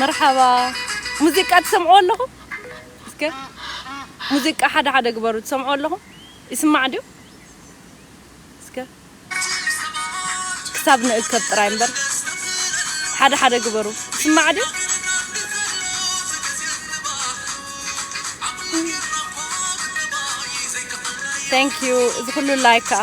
መርሓባ ሙዚቃ ትሰምዕዎ ኣለኹም እስከ ሙዚቃ ሓደ ሓደ ግበሩ ትሰምዕዎ ኣለኹም ይስማዕ ድዩ እስከ። ክሳብ ንእከብ ጥራይ እምበር ሓደ ሓደ ግበሩ ይስማዕ ድዩ። Thank you እዚ ኩሉ ላይክ ከኣ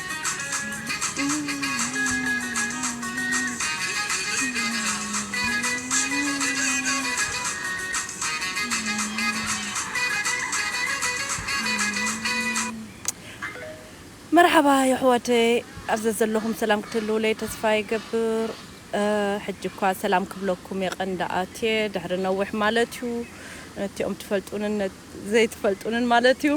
መርሓባ የሕዋተይ ኣብ ዘዘለኹም ሰላም ክትህልዉለይ ተስፋ ይገብር ሕጂ እኳ ሰላም ክብለኩም የቀንዳ ኣትየ ድሕሪ ነዊሕ ማለት እዩ ነቲኦም ትፈልጡንን ዘይትፈልጡንን ማለት እዩ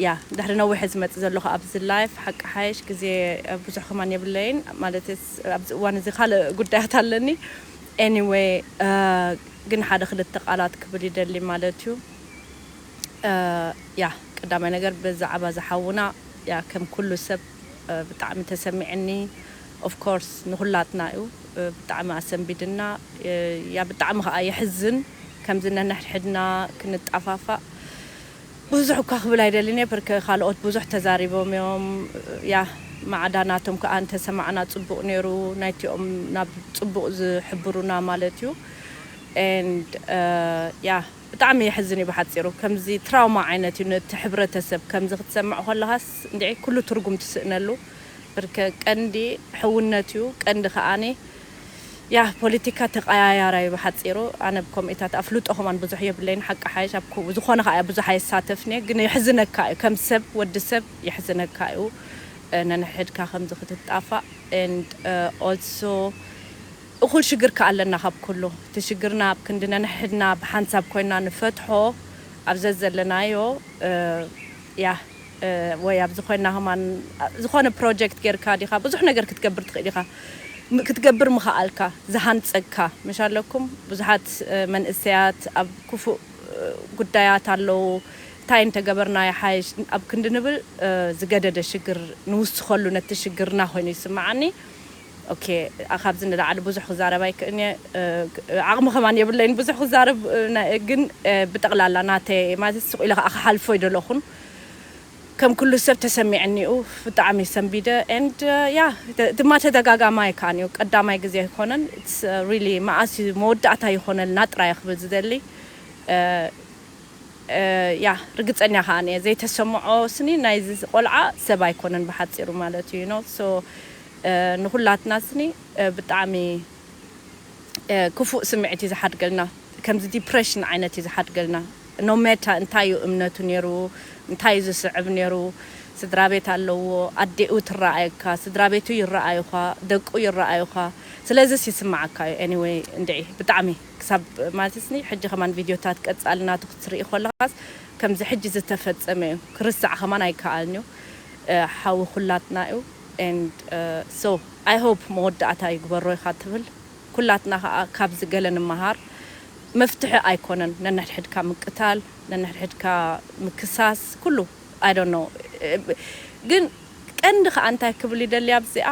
ያ ድሕሪ ነዊሕ እየ ዝመጽእ ዘለኹ ኣብዚ ላይፍ ሓቂ ሓየሽ ግዜ ብዙሕ ከማን የብለይን ማለት ኣብዚ እዋን እዚ ካልእ ጉዳያት ኣለኒ ኤኒዌይ ግን ሓደ ክልተ ቃላት ክብል ይደሊ ማለት እዩ ያ ቀዳማይ ነገር ብዛዕባ ዝሓውና ያ ከም ኩሉ ሰብ ብጣዕሚ ተሰሚዕኒ ኦፍ ኮርስ ንኩላትና እዩ ብጣዕሚ ኣሰንቢድና እያ ብጣዕሚ ከኣ የሕዝን ከምዚ ነንሕድሕድና ክንጣፋፋእ ብዙሕ እኳ ክብል ኣይደልን እየ ብርክ ካልኦት ብዙሕ ተዛሪቦም እዮም ያህ ማዕዳ ናቶም ከኣ እንተሰማዕና ጽቡቅ ኔሩ ናይቲኦም ናብ ጽቡቅ ዝሕብሩና ማለት እዩ and ያህ ብጣዕሚ የሕዝን እዩ ብሓጺሩ ከምዚ ትራውማ ዓይነት እዩ ነቲ ሕብረተሰብ ከምዚ ክትሰምዕ ኮለኻስ እንድዒ ኩሉ ትርጉም ትስእነሉ ብርከ ቀንዲ ሕውነት እዩ ቀንዲ ከኣ ያህ ፖሊቲካ ተቀያያራ እዩ ብሓጺሩ ኣነ ብ ኮሚኢታት ኣፍልጦ ከማን ብዙሕ የብለይን ሓቂ ሓይሽ ኣብ ዝኾነ ከኣ ብዙሕ ኣየሳተፍን እየ ግን የሕዝነካ እዩ ከም ሰብ ወዲ ሰብ የሕዝነካ እዩ ነንሕድካ ከምዚ ክትጣፋእ and also እኹል ሽግር ከኣ ኣለና ካብ ኩሉ እቲ ሽግርና ኣብ ክንዲ ነንሕድና ብሓንሳብ ኮይንና ንፈትሖ ኣብ ዘዘለናዮ ያህ ወይ ኣብዚ ኮይንና ከማን ዝኾነ ፕሮጀክት ጌርካ ዲኻ ብዙሕ ነገር ክትገብር ትኽእል ኢኻ ክትገብር ምኸኣልካ ዝሃንጸካ ምሽ ኣለኩም ብዙሓት መንእሰያት ኣብ ኩፉእ ጉዳያት ኣለዉ እንታይ እንተገበርና ይሓይሽ ኣብ ክንዲ ንብል ዝገደደ ሽግር ንውስኸሉ ነቲ ሽግርና ኮይኑ ይስመዓኒ ኦኬ ካብዚ ንላዕሊ ብዙሕ ክዛረብ ኣይክእን እየ ዓቅሚ ከማን የብለይን ብዙሕ ክዛረብ ግን ብጠቅላላ ናተይ ማለት ስቅ ኢለ ከዓ ክሓልፎ ኣይደለኩን ከም ኩሉ ሰብ ተሰሚዕኒ እዩ ብጣዕሚ ሰንቢደ and ያ ድማ ተደጋጋሚ ኣይከኣን እዩ ቀዳማይ ግዜ ኣይኮነን it's really መኣስ እዩ መወዳእታ ይኮነልና ጥራይ እየ ክብል ዝደሊ ያ ርግጸኛ ከኣን እየ ዘይተሰምዖ ስኒ ናይዚ ቆልዓ ሰብ ኣይኮነን ብሓጺሩ ማለት እዩ you know so ንኹላትና ስኒ ብጣዕሚ ክፉእ ስምዒት እዩ ዝሓድገልና ከምዚ ዲፕረሽን ዓይነት እዩ ዝሓድገልና ኖ ሜታ እንታይ እዩ እምነቱ ነይሩ እንታይ እዩ ዝስዕብ ነይሩ ስድራ ቤት ኣለዎ ኣዴኡ ትረኣየካ ስድራ ቤቱ ይረኣዩኻ ደቁ ይረኣዩኻ ስለዚስ ይስምዓካ እዩ ኤኒወይ እንድዒ ብጣዕሚ ክሳብ ማለት ስኒ ሕጂ ከማን ቪድዮታት ቀጻሊ ናቱ ክትርኢ ኮለኻስ ከምዚ ሕጂ ዝተፈጸመ እዩ ክርሳዕ ከማን ኣይከኣልን እዩ ሓዊ ኩላትና እዩ and so i hope መወዳእታ ይግበሮ ኢኻ ትብል ኩላትና ከኣ ካብዚ ገለ ንመሃር መፍትሒ ኣይኮነን ነንሕድሕድካ ምቅታል ነንሕድሕድካ ምክሳስ ኩሉ i don't know ግን ቀንዲ ከኣ እንታይ ክብል ይደሊ ኣብዚኣ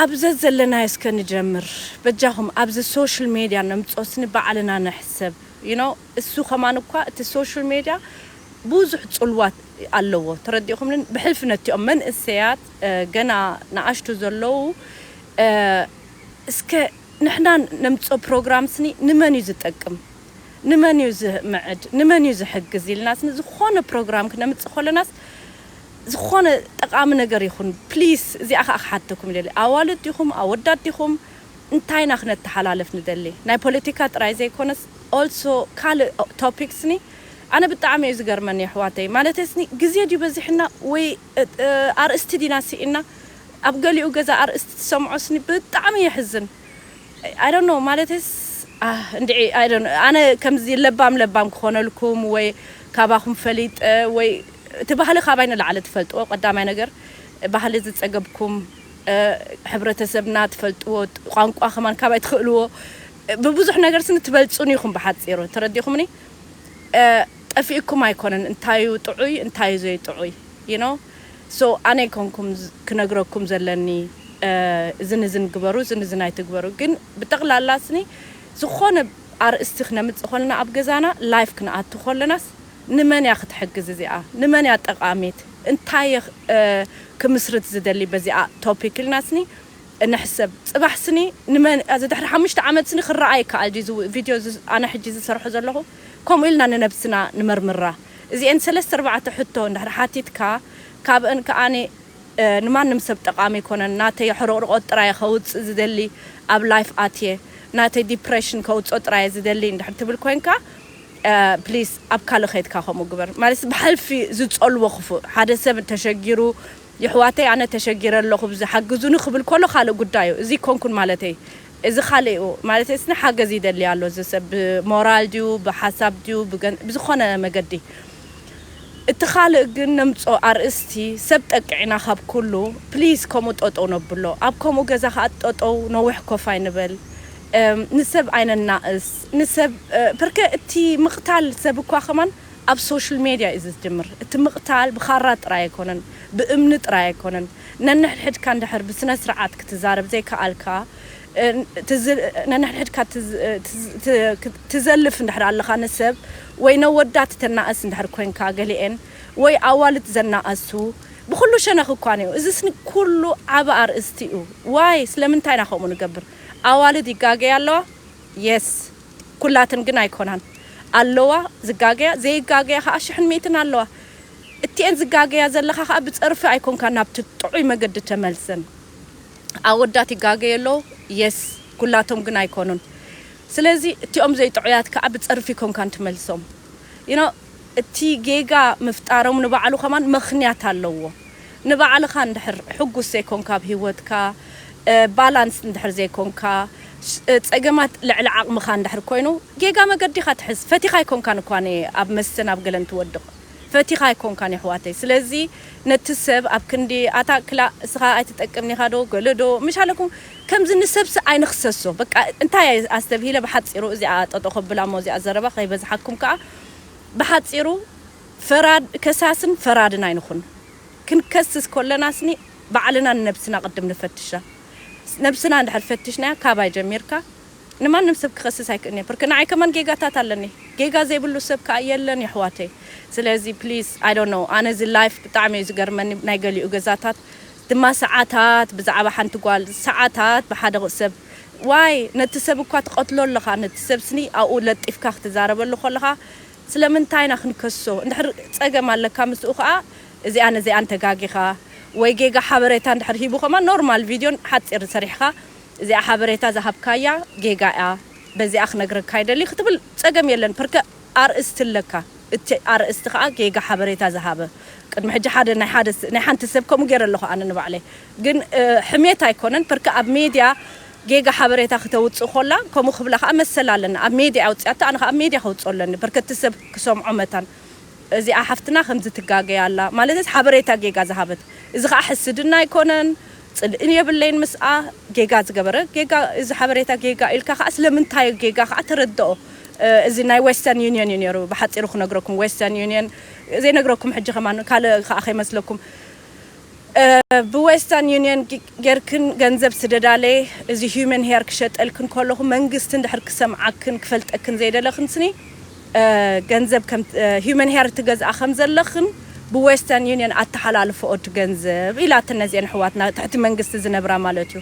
ኣብ ዘዘለናዮ እስከ ንጀምር በጃኹም ኣብዚ social media ነምጾስኒ ባዕልና ንሕሰብ you know። እሱ ከማን እኳ እቲ ሶሹል ሜድያ ቡዙሕ ጽልዋት ኣለዎ ተረዲእኹምኒ ብሕልፊ ነቲኦም መንእሰያት ገና ንኣሽቱ ዘለዉ እስከ ንሕና ነምጽኦ ፕሮግራም ስኒ ንመን እዩ ዝጠቅም ንመን እዩ ዝምዕድ ንመን እዩ ዝሕግዝ ኢልና ስኒ ዝኾነ ፕሮግራም ክነምጽእ ከለናስ ዝኾነ ጠቃሚ ነገር ይኹን ፕሊስ እዚኣ ከኣ ክሓተኩም ይደሊ ኣዋልድ ዲኹም ኣወዳት ዲኹም እንታይ ኢና ክነተሓላልፍ ንደሊ ናይ ፖለቲካ ጥራይ ዘይኮነስ also ካልእ topic ስኒ ኣነ ብጣዕሚ እዩ ዝገርመኒ የሕዋተይ ማለተይ ስኒ ግዜ ድዩ በዚሕና ወይ ኣርእስቲ ዲና ሲኢንና ኣብ ገሊኡ ገዛ ኣርእስቲ ትሰምዖ ስኒ ብጣዕሚ የሕዝን I don't know ማለተይስ ኣህ እንድዒ I don't know ኣነ ከምዚ ለባም ለባም ክኾነልኩም ወይ ካባኹም ፈሊጠ ወይ እቲ ባህሊ ካባይ ንላዕሊ ትፈልጥዎ ቀዳማይ ነገር ባህሊ ዝጸገብኩም ሕብረተሰብና ትፈልጥዎ ቋንቋ ከማን ካባይ ትኽእልዎ ብብዙሕ ነገር ስኒ ትበልጹኒ ኢኹም ብሓጺሩ ተረዲእኹምኒ ጠፊእኩም ኣይኮነን እንታዩ ጥዑይ እንታዩ ዘይጥዑይ you know so ኣነ ኣይኮንኩም ክነግረኩም ዘለኒ እዝን እዝን ግበሩ እዝን እዝን ኣይትግበሩ ግን ብጠቕላላ ስኒ ዝኾነ ኣርእስቲ ክነምጽእ ኮለና ኣብ ገዛና live ክንኣቱ ኮለናስ ንመን እያ ክትሕግዝ እዚኣ ንመን እያ ጠቃሚት እንታይ እየ ክምስርት ዝደሊ በዚኣ ቶፒክ ኢልና ስኒ ንሕሰብ ፅባሕ ስኒ ንመን እዚ ድሕሪ ሓሙሽተ ዓመት ስኒ ክረኣ ይከኣል ድዩ እዚ ቪድዮ እዚ ኣነ ሕጂ ዝሰርሖ ዘለኹ ከምኡ ኢልና ንነብስና ንመርምራ እዚኤን ሰለስተ ኣርባዕተ ሕቶ እንድሕር ሓቲትካ ካብእን ከኣ ንማንም ሰብ ጠቃሚ ኣይኮነን ናተይ ሕርቕርቖት ጥራይ እየ ከውፅእ ዝደሊ ኣብ ላይፍ ኣትየ ናተይ ዲፕሬሽን ከውፅኦ ጥራይ እየ ዝደሊ እንድሕር ትብል ኮይንካ ፕሊስ ኣብ ካልእ ከይድካ ከምኡ ግበር ማለትስ ብሐልፊ ዝጸልዎ ክፉእ ሐደ ሰብ ተሸጊሩ የሕዋተይ ኣነ ተሸጊረ ኣለኹ ብዚ ሐግዙኒ ክብል ኮሎ ካልእ ጉዳይ እዩ እዚ ኮንኩን ማለተይ እዚ ካልእ እዩ ማለተይስ ንሐገዝ ይደሊ ኣሎ እዚ ሰብ ብሞራል ድዩ ብሐሳብ ድዩ ብገን ብዝኾነ መገዲ እቲ ካልእ ግን ነምጾ ኣርእስቲ ሰብ ጠቅዕና ካብ ኩሉ ፕሊስ ከምኡ ጠጠው ነብሎ ኣብ ከምኡ ገዛ ከኣ ጠጠው ነዊሕ ኮፍ ኣይንበል ንሰብ ኣይነናእስ። ንሰብ ፐርከ እቲ ምቕታል ሰብ እኳ ከማን ኣብ ሶሽል ሜድያ እዩ ዝጅምር እቲ ምቕታል ብኻራ ጥራይ ኣይኮነን ብእምኒ ጥራይ ኣይኮነን ነንሕድሕድካ እንድሕር ብስነስርዓት ክትዛረብ ዘይከኣልካ ነንሕድሕድካ ትዘልፍ እንድሕር ኣለኻ ንሰብ ወይ ነወዳት ተናእስ እንድሕር ኮንካ ገሊኤን ወይ ኣዋልድ ዘናእሱ ብኹሉ ሸነኽ እኳ እንየው እዚስ ኩሉ ዓቢ ኣርእስቲ እዩ ዋይ ስለምንታይ ኢና ከምኡ ንገብር ኣዋልድ ይጋገያ ኣለዋ የስ ኩላተን ግን ኣይኮናን ኣለዋ ዝጋገያ ዘይጋገያ ከኣ ሽሕን ሚእትን ኣለዋ እቲኤን ዝጋገያ ዘለካ ከኣ ብጸርፊ ኣይኮንካ ናብቲ ጥዑይ መገዲ ተመልሰን ኣወዳት ይጋገዩ ኣለዉ የስ ኩላቶም ግን ኣይኮኑን ስለዚ እቲኦም ዘይጥዑያት ከኣ ብጸርፊ ኣይኮንካን ትመልሶም you know እቲ ጌጋ ምፍጣሮም ንባዕሉ ከማን መኽንያት ኣለዎ ንባዕልኻ እንድሕር ሕጉስ ዘይኮንካ ኣብ ሂወትካ ባላንስ እንድሕር ዘይኮንካ ጸገማት ልዕሊ ዓቕምኻ እንድሕር ኮይኑ ጌጋ መገዲ ኢኻ ትሕዝ ፈቲኻ ኣይኮንካን እኳ ን ኣብ መስተን ኣብ ገለን ትወድቕ ፈቲኻ ኣይኮንካን የሕዋተይ ስለዚ ነቲ ሰብ ኣብ ክንዲ ኣታ ክላእ እስኻ ኣይትጠቅምን ኢኻ ዶ ገለ ዶ ምሻለኩም ከምዚ ንሰብሲ ኣይንኽሰሶ በቃ እንታይ ኣስተብሂለ ብሓጺሩ እዚኣ ጠጠው ከብላ እሞ እዚኣ ዘረባ ከይበዝሓኩም ከኣ ብሓጺሩ ፈራድ ከሳስን ፈራድን ኣይንኹን። ክንከስስ ኮለናስኒ ባዕልና ንነብስና ቅድም ንፈትሻ። ነብስና እንድሕር ፈትሽናያ ካባይ ጀሚርካ ንማንም ሰብ ክኸስስ ኣይክእን እየ ብርክ ንዓይ ከማን ጌጋታት ኣለኒ ጌጋ ዘይብሉ ሰብ ከኣ የለን የሕዋተይ ስለዚ please I don't know ኣነ እዚ life ብጣዕሚ እዩ ዝገርመኒ ናይ ገሊኡ ገዛታት ድማ ሰዓታት ብዛዕባ ሓንቲ ጓል ሰዓታት ብሓደ ሰብ ዋይ ነቲ ሰብ እኳ ትቀትሎ ኣለኻ ነቲ ሰብ ስኒ ኣብኡ ለጢፍካ ክትዛረበሉ ከለኻ ስለምንታይ ኢና ክንከሶ እንድሕር ጸገም ኣለካ ምስኡ ከኣ እዚኣን እዚኣን ተጋጊኻ ወይ ጌጋ ሓበሬታ እንድሕር ሂቡ ከማን ኖርማል ቪድዮ ሓጺር ሰሪሕኻ እዚኣ ሓበሬታ ዝሃብካያ ጌጋ እያ በዚኣ ክነግረካ ይደሊ ክትብል ጸገም የለን ፕርከ ኣርእስቲ ኣለካ እቲ ኣርእስቲ ከኣ ጌጋ ሓበሬታ ዝሃበ ቅድሚ ሕጂ ሓደ ናይ ሓደ ናይ ሓንቲ ሰብ ከምኡ ጌረ ኣለኹ ኣነ ንባዕለይ ግን ሕሜት ኣይኮነን ፐርክ ኣብ ሜድያ ጌጋ ሓበሬታ ክተውጽእ ኮላ ከምኡ ክብላ ከኣ መሰል ኣለኒ ኣብ ሜድያ እያ ኣውጺኣቶ ኣነ ከኣ ኣብ ሜድያ ከውጽኦ ኣለኒ ፐርክ እቲ ሰብ ክሰምዖ መታን እዚኣ ሓፍትና ከምዚ ትጋገይ ኣላ ማለተይስ ሓበሬታ ጌጋ ዝሃበት እዚ ከኣ ሕስድና ኣይኮነን ጽልእን የብለይን ምስኣ ጌጋ ዝገበረ ጌጋ እዚ ሓበሬታ ጌጋ ኢልካ ከኣ ስለምንታይ ጌጋ ከኣ ተረድኦ እዚ ናይ ዌስተርን ዩንዮን እዩ ኔሩ ብሓጺሩ ክነግረኩም ዌስተርን ዩንዮን ዘይነግረኩም ሕጂ ከማን ካልእ ከኣ ከይመስለኩም ብዌስተርን ዩኒየን ጌርክን ገንዘብ ስደዳለይ እዚ ሂዩመን ሄር ክሸጠልክን ከለኹ መንግስቲ እንድሕር ክሰምዓክን ክፈልጠክን ዘይደለኽንስኒ ገንዘብ ከም ሂዩመን ሄር ትገዝኣ ከም ዘለኽን ብዌስተርን ዩኒየን ኣተሓላልፈኦ እቲ ገንዘብ ኢላትን ነዚኤን ኣሕዋትና ትሕቲ መንግስቲ ዝነብራ ማለት እዩ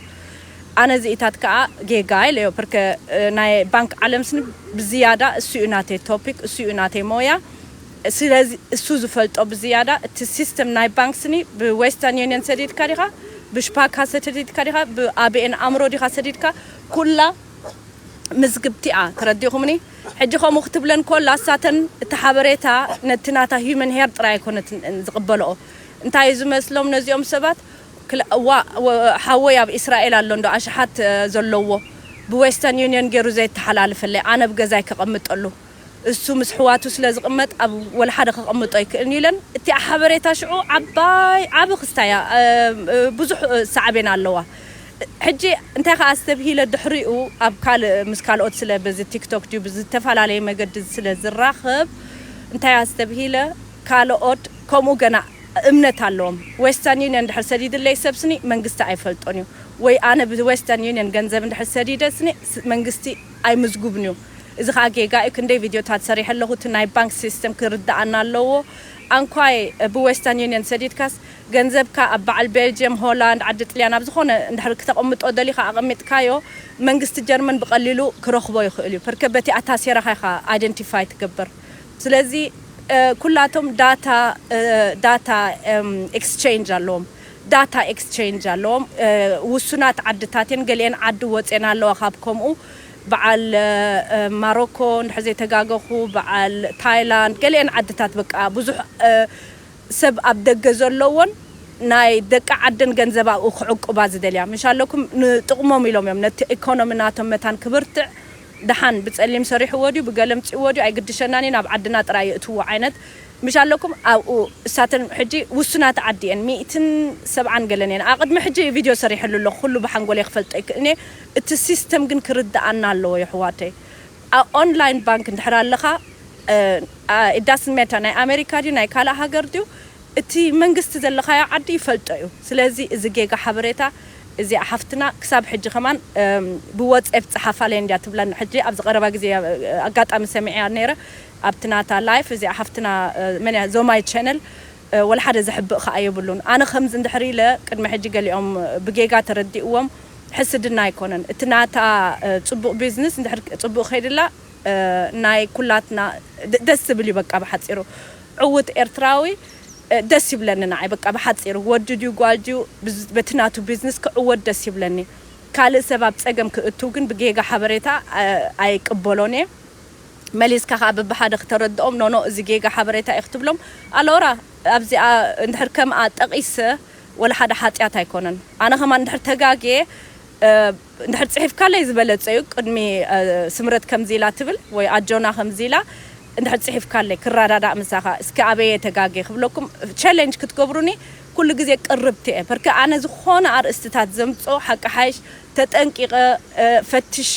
ኣነ እዚኢታት ከዓ ጌጋ ኢለዮ ፕርከ ናይ ባንክ ዓለምስኒ ብዝያዳ እሱ እዩ ናተይ ቶፒክ እሱ እዩ ናተይ ሞያ ስለዚ እሱ ዝፈልጦ ብዝያዳ እቲ ሲስተም ናይ ባንክ ስኒ ብዌስተርን ዩኒየን ሰዲድካ ዲኻ ብሽፓካ ሰተዲድካ ዲኻ ብኣቢኤን ኣምሮ ዲኻ ሰዲድካ ኩላ ምዝግብቲ'ያ ተረዲእኹምኒ ሕጂ ከምኡ ክትብለን ኮላ እሳተን እቲ ሓበሬታ ነቲ ናታ ሂዩመን ሄር ጥራይ ኣይኮነትን ዝቅበልኦ እንታዩ ዝመስሎም ነዚኦም ሰባት ዋእ ሓወይ ኣብ ኢስራኤል ኣሎ እንዶ ኣሽሓት ዘለዎ ብዌስተርን ዩኒየን ጌሩ ዘየተሓላልፈለይ ኣነ ብገዛይ ከቀምጠሉ እሱ ምስ ኣሕዋቱ ስለ ዝቕመጥ ኣብ ወልሓደ ከቐምጦ ኣይክእልን'ዩ ኢለን። እቲኣ ሓበሬታ ሽዑ ዓባይ ዓቢ ክስታ'ያ ብዙሕ ሳዕቤን ኣለዋ። ሕጂ እንታይ ከኣ ኣስተብሂለ ድሕሪኡ ኣብ ካልእ ምስ ካልኦት ስለ በዚ ቲክቶክ ድዩ ብዝተፈላለየ መገዲ ስለ ዝራኸብ እንታይ ኣስተብሂለ ካልኦት ከምኡ ገና እምነት ኣለዎም ዌስተርን ዩንዮን ድሕር ሰዲድለይ ሰብ ስኒ መንግስቲ ኣይፈልጦን'ዩ ወይ ኣነ ብዌስተርን ዩንዮን ገንዘብ እንድሕር ሰዲደ ስኒ መንግስቲ ኣይምዝጉብንዩ እዚ ከኣ ጌጋ እዩ ክንደይ ቪድዮታት ሰሪሐ ኣለኩ እቲ ናይ ባንክ ሲስተም ክርደኣና ኣለዎ ኣንኳይ ብ ዌስተን ዩንዮን ሰዲድካስ ገንዘብካ ኣብ በዓል ቤልጅየም ሆላንድ ዓዲ ጥልያን ኣብ ዝኮነ እንድሕር ክተቅምጦ ደሊካ ኣቀሚጥካዮ መንግስቲ ጀርመን ብቀሊሉ ክረክቦ ይክእል እዩ ፐርከ በቲ ኣታሴራካ ኢካ ኣይደንቲፋይ ትገብር ስለዚ ኩላቶም ዳታ ዳታ ኤክስቸንጅ ኣለዎም ዳታ ኤክስቼንጅ ኣለዎም ውሱናት ዓድታት እየን ገሊኤን ዓዲ ወጼን ኣለዋ ካብ ከምኡ በዓል ማሮኮ እንድሕር ዘይተጋገኹ በዓል ታይላንድ ገሊኤን ዓድታት በቃ ብዙሕ ሰብ ኣብ ደገ ዘለዎን ናይ ደቂ ዓደን ገንዘብ ኣብኡ ክዕቁባ ዝደልያ ምሽ ኣለኩም ንጥቕሞም ኢሎም እዮም ነቲ ኤኮኖሚ ናቶም መታን ክብርትዕ ደሓን ብጸሊም ሰሪሕዎ ድዩ ብገለ ኣምጺእዎ ድዩ ኣይግድሸናን እዩ ናብ ዓድና ጥራይ የእትዎ ዓይነት ምሽ ኣለኩም ኣብኡ እሳተን ሕጂ ውሱናት ዓዲ እየን ሚእትን ሰብዓን ገለን እየን ኣቅድሚ ሕጂ ቪድዮ ሰሪሐሉ ኣለኩ ኩሉ ብሓንጎለይ ክፈልጦ ኣይክእልን እየ እቲ ሲስተም ግን ክርደኣና ኣለዎ የሕዋተይ ኣብ ኦንላይን ባንክ እንድሕር ኣለካ it doesn't matter ናይ ኣሜሪካ ድዩ ናይ ካልእ ሃገር ድዩ እቲ መንግስቲ ዘለካዮ ዓዲ ይፈልጦ እዩ ስለዚ እዚ ጌጋ ሓበሬታ እዚኣ ሓፍትና ክሳብ ሕጂ ከማን ብወጼፕ ጽሓፋለይ እንድያ ትብለኒ ሕጂ ኣብዚ ቀረባ ግዜ ኣጋጣሚ ሰሚዐያ ኔረ ኣብቲ ናታ ላይፍ እዚኣ ሓፍትና መን እያ ዞማይት ቸነል ወላሓደ ዘሕብእ ካኣ የብሉን ኣነ ከምዚ እንድሕር ኢለ ቅድሚ ሕጂ ገሊኦም ብጌጋ ተረዲእዎም ሕስድና ኣይኮነን እቲ ናታ ጽቡቅ ቢዝንስ እንድሕር ጽቡቅ ከይድላ ናይ ኩላትና ደስ ዝብል እዩ በቃ ብሓጺሩ ዕውት ኤርትራዊ ደስ ይብለኒ ናዓይ በቃ ብሓጺሩ ወዲ ድዩ ጓል ድዩ በቲ ናቱ ቢዝንስ ክዕወት ደስ ይብለኒ ካልእ ሰብ ኣብ ጸገም ክእትው ግን ብጌጋ ሓበሬታ ኣይቅበሎን እየ መሊስካ ከኣ ብብሓደ ክተረድኦም ኖኖእ እዚ ጌጋ ሓበሬታ እዩ ክትብሎም ኣሎራ ኣብዚኣ እንድሕር ከምኣ ጠቂሰ ወላ ሓደ ሓጥያት ኣይኮነን ኣነ ከማን እንድሕር ተጋግየ እንድሕር ጺሒፍካለይ ዝበለጸ እዩ ቅድሚ ስምረት ከምዚ ኢላ ትብል ወይ ኣጆና ከምዚ ኢላ እንድሕር ጺሒፍካለይ ክራዳዳእ ምሳካ እስኪ ኣበይ እየ ተጋግየ ክብለኩም ቸለንጅ ክትገብሩኒ ኩሉ ግዜ ቅርብቲ እየ ፐርከ ኣነ ዝኮነ ኣርእስትታት ዘምጾ ሓቂ ሓይሽ ተጠንቂቀ ፈትሸ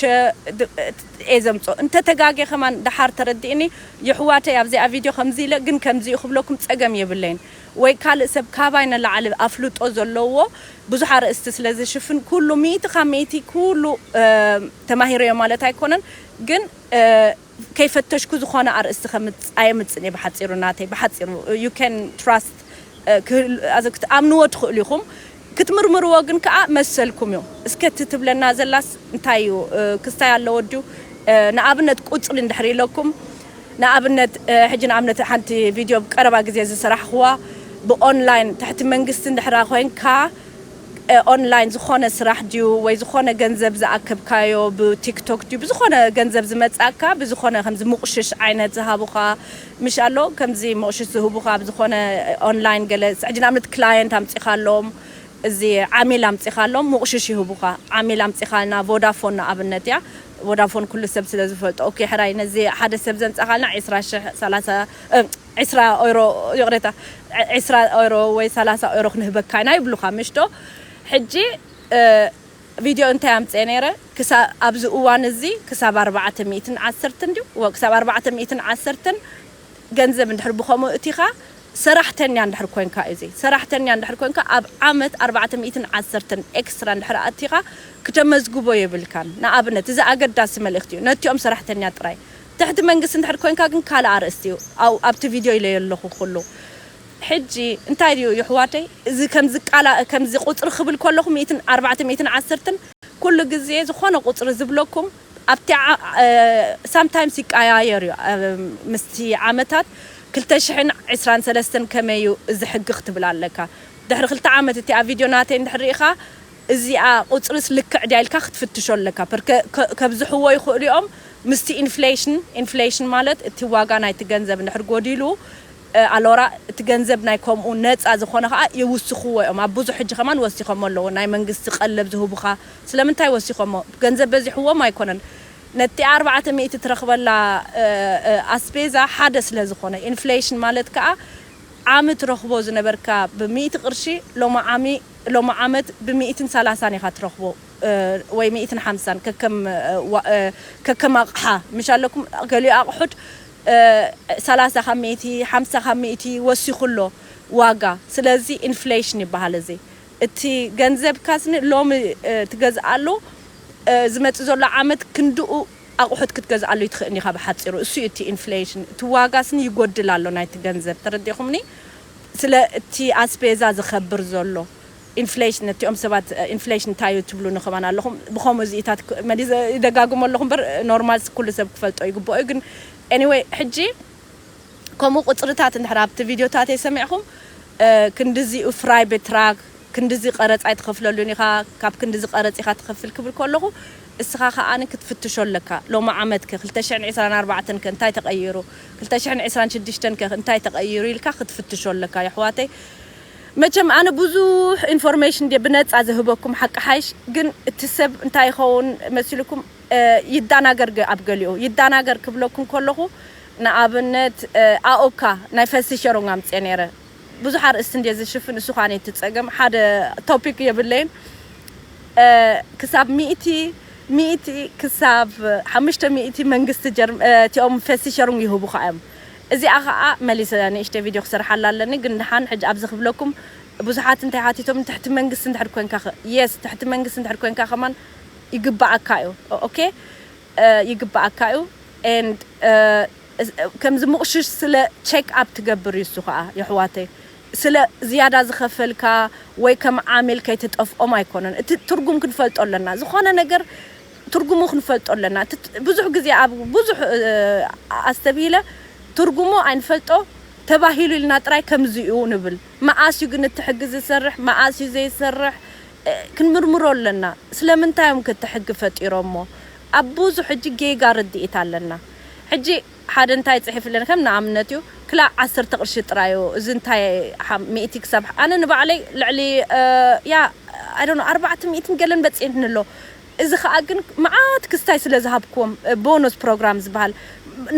እየ ዘምጾ እንተ ተጋግየ ከማን ደሓር ተረድእኒ የሕዋተይ ኣብዚኣ ቪድዮ ከምዚ ኢለ ግን ከምዚ እዩ ክብለኩም ጸገም የብለይን ወይ ካልእ ሰብ ካባይ ንላዕሊ ኣፍልጦ ዘለዎ ብዙሕ ኣርእስቲ ስለ ዝሽፍን ኩሉ ሚእቲ ካብ ሚእቲ ኩሉ ተማሂረዮ ማለት ኣይኮነን ግን ከይፈተሽኩ ዝኾነ ኣርእስቲ ከምጽ ኣየምጽን እየ ብሓጺሩ ናተይ ብሓጺሩ you can trust ኣምንዎ ትኽእሉ ኢኹም ክትምርምርዎ ግን ከኣ መሰልኩም እዩ። እስከ እቲ ትብለና ዘላስ እንታይ እዩ ክስታይ ኣለዎ ድዩ ንኣብነት ቁጽሪ እንድሕር ኢለኩም ንኣብነት ሕጂ ንኣብነት ሓንቲ ቪድዮ ኣብ ቀረባ ግዜ ዝሰራሕክዋ ብ online ትሕቲ መንግስቲ እንድሕራ ኮንካ online ዝኾነ ስራሕ ድዩ ወይ ዝኾነ ገንዘብ ዝኣከብካዮ ብ ቲክቶክ ድዩ ብዝኾነ ገንዘብ ዝመጻካ ብዝኾነ ከምዚ ሙቕሽሽ ዓይነት ዝሃቡኻ ምሽ ኣሎ ከምዚ ሞቕሽት ዝህቡኻ ኣብ ዝኾነ ኦንላይን ገለ ሕጂ ንኣብነት ክላየንት ኣምጺኻሎም እዚ ዓሚል ኣምጺኻሎም ሙቕሽሽ ይህቡኻ ዓሚል ኣምጺኻልና ቮዳፎን ንኣብነት እያ ቮዳፎን ኩሉ ሰብ ስለ ዝፈልጦ ኦኬ ሕራይ ነዚ ሓደ ሰብ ዘምጻኻልና ዒስራ ሽሕ ሰላሳ ዒስራ ኦይሮ ይቕሬታ ዒስራ ኦይሮ ወይ ሰላሳ ኦይሮ ክንህበካ ኢና ይብሉኻ ምሽዶ ሕጂ ቪድዮ እንታይ ኣምጽኤ ነይረ ክሳብ ኣብዚ እዋን እዚ ክሳብ ኣርባዕተ ሚእትን ዓሰርተን ድዩ እወ ክሳብ ኣርባዕተ ሚእትን ዓሰርተን ገንዘብ እንድሕር ብከምኡ እቲካ ሰራሕተኛ እንድሕር ኮንካ እዩ እዚ ሰራሕተኛ እንድሕር ኮንካ ኣብ ዓመት ኣርባዕተ ሚእትን ዓሰርተን ኤክስትራ እንድሕር ኣእቲካ ክተመዝግቦ የብልካን ንኣብነት እዚ ኣገዳሲ መልእክቲ እዩ ነቲኦም ሰራሕተኛ ጥራይ ትሕቲ መንግስቲ እንድሕር ኮንካ ግን ካልእ ኣርእስቲ እዩ ኣብቲ ቪድዮ ኢለዮ ኣለኩ ኩሉ ሕጂ እንታይ ድዩ ይሕዋተይ እዚ ከምዚ ቃላ ከምዚ ቁጽሪ ክብል ከለኩ ሚእትን ኣርባዕተ ሚእትን ዓስርትን ኩሉ ግዜ ዝኮነ ቁጽሪ ዝብለኩም ኣብቲ ሳምታይምስ ይቃያየር እዩ ምስቲ ዓመታት ክልተ ሽሕን ዕስራን ሰለስተን ከመይ እዩ እዚ ሕጊ ክትብል ኣለካ ድሕሪ ክልተ ዓመት እቲኣ ቪድዮ ናተይ እንድሕር ሪኢካ እዚኣ ቁጽርስ ልክዕ ድያ ኢልካ ክትፍትሾ ኣለካ ፐርከ ከብዝሕዎ ይክእሉ እዮም ምስቲ ኢንፍሌሽን ኢንፍሌሽን ማለት እቲ ዋጋ ናይቲ ገንዘብ እንድሕር ጎዲሉ ኣሎራ እቲ ገንዘብ ናይ ከምኡ ነጻ ዝኮነ ከኣ ይውስክዎ እዮም ኣብ ብዙሕ ሕጂ ከማን ወሲከሞ ኣለዉ ናይ መንግስቲ ቀለብ ዝህቡካ ስለምንታይ ወሲከሞ ገንዘብ በዚሕዎም ኣይኮነን ነቲኣ ኣርባዕተ ሚእቲ ትረክበላ ኣስቤዛ ሓደ ስለ ዝኮነ ኢንፍሌሽን ማለት ከኣ ዓሚ ትረክቦ ዝነበርካ ብ ሚእቲ ቅርሺ ሎሚ ዓሚ ሎሚ ዓመት ብ ሚእትን ሰላሳን ኢካ ትረክቦ ወይ ሚእትን ሓምሳን ከከም ከከም ኣቅሓ ምሽ ኣለኩም ገሊኡ ኣቅሑት ሰላሳ ካብ ሚእቲ፣ ሓምሳ ካብ ሚእቲ ወሲኹ ኣሎ ዋጋ። ስለዚ ኢንፍሌሽን ይበሃል እዚ። እቲ ገንዘብካ ስኒ ሎሚ ትገዝኣሉ ዝመጽእ ዘሎ ዓመት ክንድኡ ኣቑሑት ክትገዝኣሉ ኣይትኽእልን ኢኻ ብሓጺሩ። እሱ እዩ እቲ ኢንፍሌሽን። እቲ ዋጋ ስኒ ይጎድል ኣሎ ናይቲ ገንዘብ። ተረዲእኹምኒ? ስለ እቲ ኣስፔዛ ዝኸብር ዘሎ። ኢንፍሌሽን ነቲኦም ሰባት ኢንፍሌሽን እንታይ እዩ ትብሉኒ ከማን ኣለኹም ብኸምኡ እዚኢታት መሊሰ ይደጋግሞ ኣለኹ እምበር ኖርማልስ ኩሉ ሰብ ክፈልጦ ይግብኦ እዩ ግን ኤኒወይ ሕጂ ከምኡ ቁጽርታት እንድሕር ኣብቲ ቪድዮታተይ ሰሚዕኹም ክንድዚ ፍራይ ቤትራክ ክንድዚ ቀረጽ ኣይትኸፍለሉን ኢኻ ካብ ክንድዚ ቀረጽ ኢኻ ትኸፍል ክብል ከለኹ እስኻ ከኣ ክትፍትሾ ኣለካ ሎሚ ዓመት ከ ክልተ ሽሕን ዕስራን ኣርባዕተን ከ እንታይ ተቐይሩ ክልተ ሽሕን ዕስራን ሽዱሽተን ከ እንታይ ተቐይሩ ኢልካ ክትፍትሾ ኣለካ የሕዋተይ መቸም ኣነ ብዙሕ ኢንፎርሜሽን ድየ ብነጻ ዝህበኩም ሓቂ ሓይሽ ግን እቲ ሰብ እንታይ ይኸውን መሲልኩም ይዳናገር ድዩ ኣብ ገሊኡ ይዳናገር ክብለኩም ከለኹ ንኣብነት ኣኦካ ናይ ፈልሲ ሸሮንግ ኣምጼ ነይረ ብዙሕ ኣርእስቲ እንድየ ዝሽፍን እሱ ኻን እቲ ጸገም ሓደ ቶፒክ የብለይን ክሳብ ሚእቲ ሚእቲ ክሳብ ሓሙሽተ ሚእቲ መንግስቲ ጀርም እቲኦም ፈልሲ ሸሮንግ ይህቡኻ እዮም እዚኣ ከኣ መሊሰ ንእሽተይ ቪድዮ ክሰርሓላ ኣለኒ ግን ደሓን ሕጂ ኣብዚ ክብለኩም ብዙሓት እንታይ ሓቲቶምኒ ትሕቲ መንግስቲ እንድሕር ኮንካ ከ yes ትሕቲ መንግስቲ እንድሕር ኮንካ ከማን ይግበኣካ እዩ ok ይግበኣካ እዩ and ከምዚ ምቕሽሽ ስለ check up ትገብር እዩ እሱ ከኣ የሕዋተይ ስለ ዝያዳ ዝኸፈልካ ወይ ከም ዓሚል ከይትጠፍኦም ኣይኮነን እቲ ትርጉም ክንፈልጦ ኣለና ዝኾነ ነገር ትርጉሙ ክንፈልጦ ኣለና እቲ ብዙሕ ግዜ ኣብ ብዙሕ ኣስተብሂለ ትርጉሙ ኣይንፈልጦ ተባሂሉ ኢልና ጥራይ ከምዚ እዩ ንብል መኣስ እዩ ግን እቲ ሕጊ ዝሰርሕ መኣስ እዩ ዘይሰርሕ ክንምርምሮ ኣለና ስለምንታይ እዮም ከ እቲ ሕጊ ፈጢሮሞ ኣብ ብዙሕ ሕጂ ጌጋ ርድኢት ኣለና ሕጂ ሓደ እንታይ ጽሒፉ ኣለኒ ከም ንኣብነት እዩ ክላእ ዓሰርተ ቅርሺ ጥራይ እዩ እዚ እንታይ ሓም ሚእቲ ክሳብ ኣነ ንባዕለይ ልዕሊ ያ ኣይ ዶንት ኖ ኣርባዕተ ሚእትን ገለን በጺሕኒ ኣሎ እዚ ከኣ ግን መዓት ክስታይ ስለ ዝሃብክዎም ቦኖስ ፕሮግራም ዝበሃል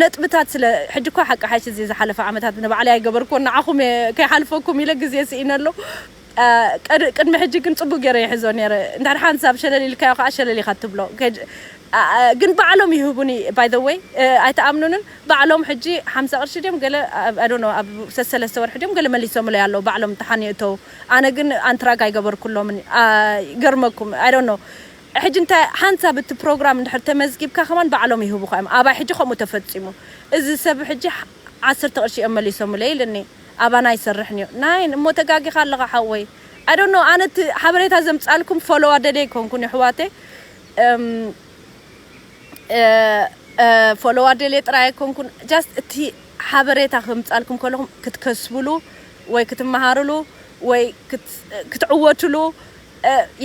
ነጥብታት ስለ ሕጂ እኳ ሓቂ ሓይሽ እዚ ዝሓለፈ ዓመታት ንባዕለይ ኣይገበርክዎን ንዓኹም እየ ከይሓልፈኩም ኢለ ግዜ ስኢነ ኣሎ ቀድ ቅድሚ ሕጂ ግን ጽቡቅ ጌረ ይሕዞ ኔረ እንድሕር ሓንቲ ሰብ ሸለል ኢልካዮ ከኣ ሸለል ኢኻ ትብሎ ከድ ግን ባዕሎም ይህቡኒ ባይ ዘ ወይ ኣይትኣምኑንን ባዕሎም ሕጂ ሓምሳ ቅርሺ ድዮም ገለ ኣይ ዶንት ኖው ኣብ ሰሰለስተ ወርሒ ድዮም ገለ መሊሶምለይ ኣለዉ ባዕሎም ተሓኔ እተዉ ኣነ ግን ኣንትራግ ኣይገበርኩሎምን ይገርመኩም i don't know ሕጂ እንታይ ሓንሳብ እቲ ፕሮግራም እንድሕር ተመዝጊብካ ከማን ባዕሎም ይህቡኻ እዮም ኣባይ ሕጂ ከምኡ ተፈጺሙ እዚ ሰብ ሕጂ ዓሰርተ ቅርሺ እዮም መሊሶምለይ ኢልኒ ኣባና ኣይሰርሕን እዩ ናይን እሞ ተጋጊኻ ኣለኻ ሓወይ i don't know ኣነ እቲ ሓበሬታ ዘምጻልኩም ፎሎው ኣደልየ ኣይኮንኩን ይሕዋተይ ፎሎው ኣደልየ ጥራይ ኣይኮንኩን just እቲ ሓበሬታ ከምጻልኩም ከለኹም ክትከስብሉ ወይ ክትመሃርሉ ወይ ክትዕወትሉ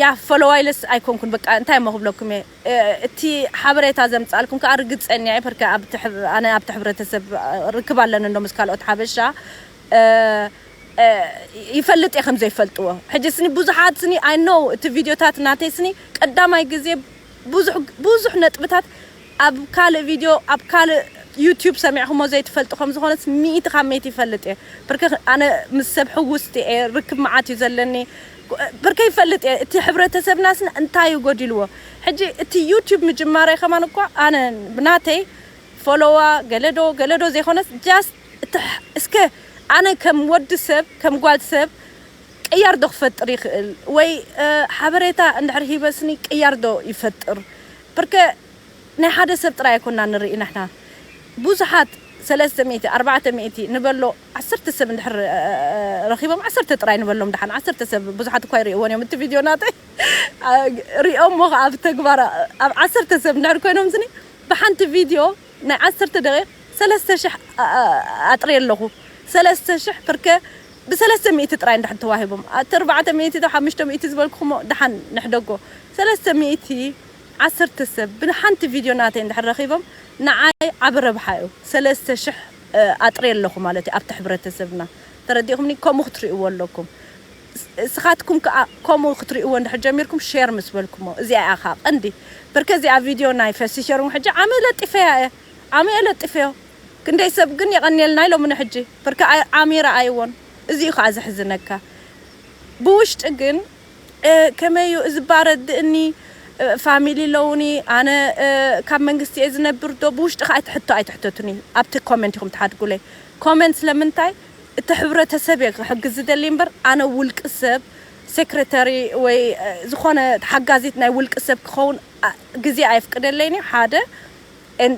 ያ ፈለዋይለስ ኣይኮንኩን በቃ እንታይ እሞ ክብለኩም እየ እቲ ሓበሬታ ዘምጻልኩም ከኣ ርግጸኛ እየ ፐርከ ኣነ ኣብቲ ሕብረተሰብ ርክብ ኣለኒ እንዶ ምስ ካልኦት ሓበሻ ይፈልጥ እየ ከም ዘይፈልጥዎ ሕጂ ስኒ ብዙሓት ስኒ ኣይ ኖው እቲ ቪድዮታት ናተይ ስኒ ቀዳማይ ግዜ ብዙሕ ብዙሕ ነጥብታት ኣብ ካልእ ቪድዮ ኣብ ካልእ ዩቱብ ሰሚዕኹሞ ዘይትፈልጡ ከም ዝኾነስ ሚእቲ ካብ ሚእቲ ይፈልጥ እየ ብርክ ኣነ ምስ ሰብ ሕውስቲ እየ ርክብ መዓት እዩ ዘለኒ ብርከ ይፈልጥ እየ እቲ ሕብረተሰብናስ እንታይ እዩ ጎዲልዎ ሕጂ እቲ ዩቱብ ምጅማረይ ከማን እኳ ኣነ ብናተይ ፎሎዋ ገለዶ ገለዶ ዘይኮነስ ጃስት እቲ እስከ ኣነ ከም ወዲ ሰብ ከም ጓል ሰብ ቅያር ዶ ክፈጥር ይኽእል ወይ ሓበሬታ እንድሕር ሂበስኒ ቅያር ዶ ይፈጥር ፕርከ ናይ ሓደ ሰብ ጥራይ ኣይኮና ንርኢ ንሕና ቡዙሓት ሰለስተ ሚእቲ ኣርባዕተ ሚእቲ ንበሎ ዓሰርተ ሰብ እንድሕር ረኺቦም ዓሰርተ ጥራይ ንበሎም ድሓን ዓሰርተ ሰብ ቡዙሓት እኳ ኣይርእይዎን እዮም እቲ ቪድዮ ናተይ ሪኦሞ ከኣ ኣብ ተግባር ኣብ ዓሰርተ ሰብ እንድሕር ኮይኖምስኒ ብሓንቲ ቪድዮ ናይ ዓሰርተ ደቂቅ ሰለስተ ሽሕ ኣጥርየ ኣለኹ ሰለስተ ሽሕ ፕርከ ብሰለስተ ሚእቲ ጥራይ እንድሕር ተዋሂቦም ኣቲ ኣርባዕተ ሚእቲ ዶ ሓምሽተ ሚእቲ ዝበልኩኹሞ ድሓን ንሕደጎ ሰለስተ ሚእቲ ዓሰርተ ሰብ ብሓንቲ ቪድዮ ናተይ እንድሕር ረኺቦም ንዓይ ዓቢ ረብሓ እዩ ሰለስተ ሽሕ ኣጥርየ ኣለኹ ማለት እዩ ኣብቲ ሕብረተሰብና ተረዲእኹምኒ ከምኡ ክትርእይዎ ኣለኩም እስኻትኩም ክኣ ከምኡ ክትርእይዎ እንድሕር ጀሚርኩም ሼር ምስ በልኩሞ እዚኣ እያ ክኣ ቀንዲ በርከ እዚኣ ቪድዮ ናይ ፈሲ ሸርንግ ሕጂ ዓሚ ለጢፈያ እየ ዓሚ እየ ለጢፈዮ ክንደይ ሰብ ግን የቀንየልና ኢሎሙ ንሕጂ ፍርቂ ዓሚ ረኣይዎን እዚ እዩ ከኣ ዘሕዝነካ ብውሽጢ ግን ከመይ እዩ እዚ እባ ረድእኒ ፋሚሊ ኣለውኒ ኣነ ካብ መንግስቲ እየ ዝነብር ዶ ብውሽጢ ከኣ እቲ ሕቶ ኣይትሕተቱኒ ኣብቲ ኮመንት ኢኹም ትሓድጉለይ ኮመንት ስለምንታይ እቲ ሕብረተሰብ እየ ክሕግዝ ዝደሊ እምበር ኣነ ውልቂ ሰብ ሴክሬታሪ ወይ ዝኾነ ሓጋዚት ናይ ውልቂ ሰብ ክኸውን ግዜ ኣየፍቅደለይን እዩ ሓደ ን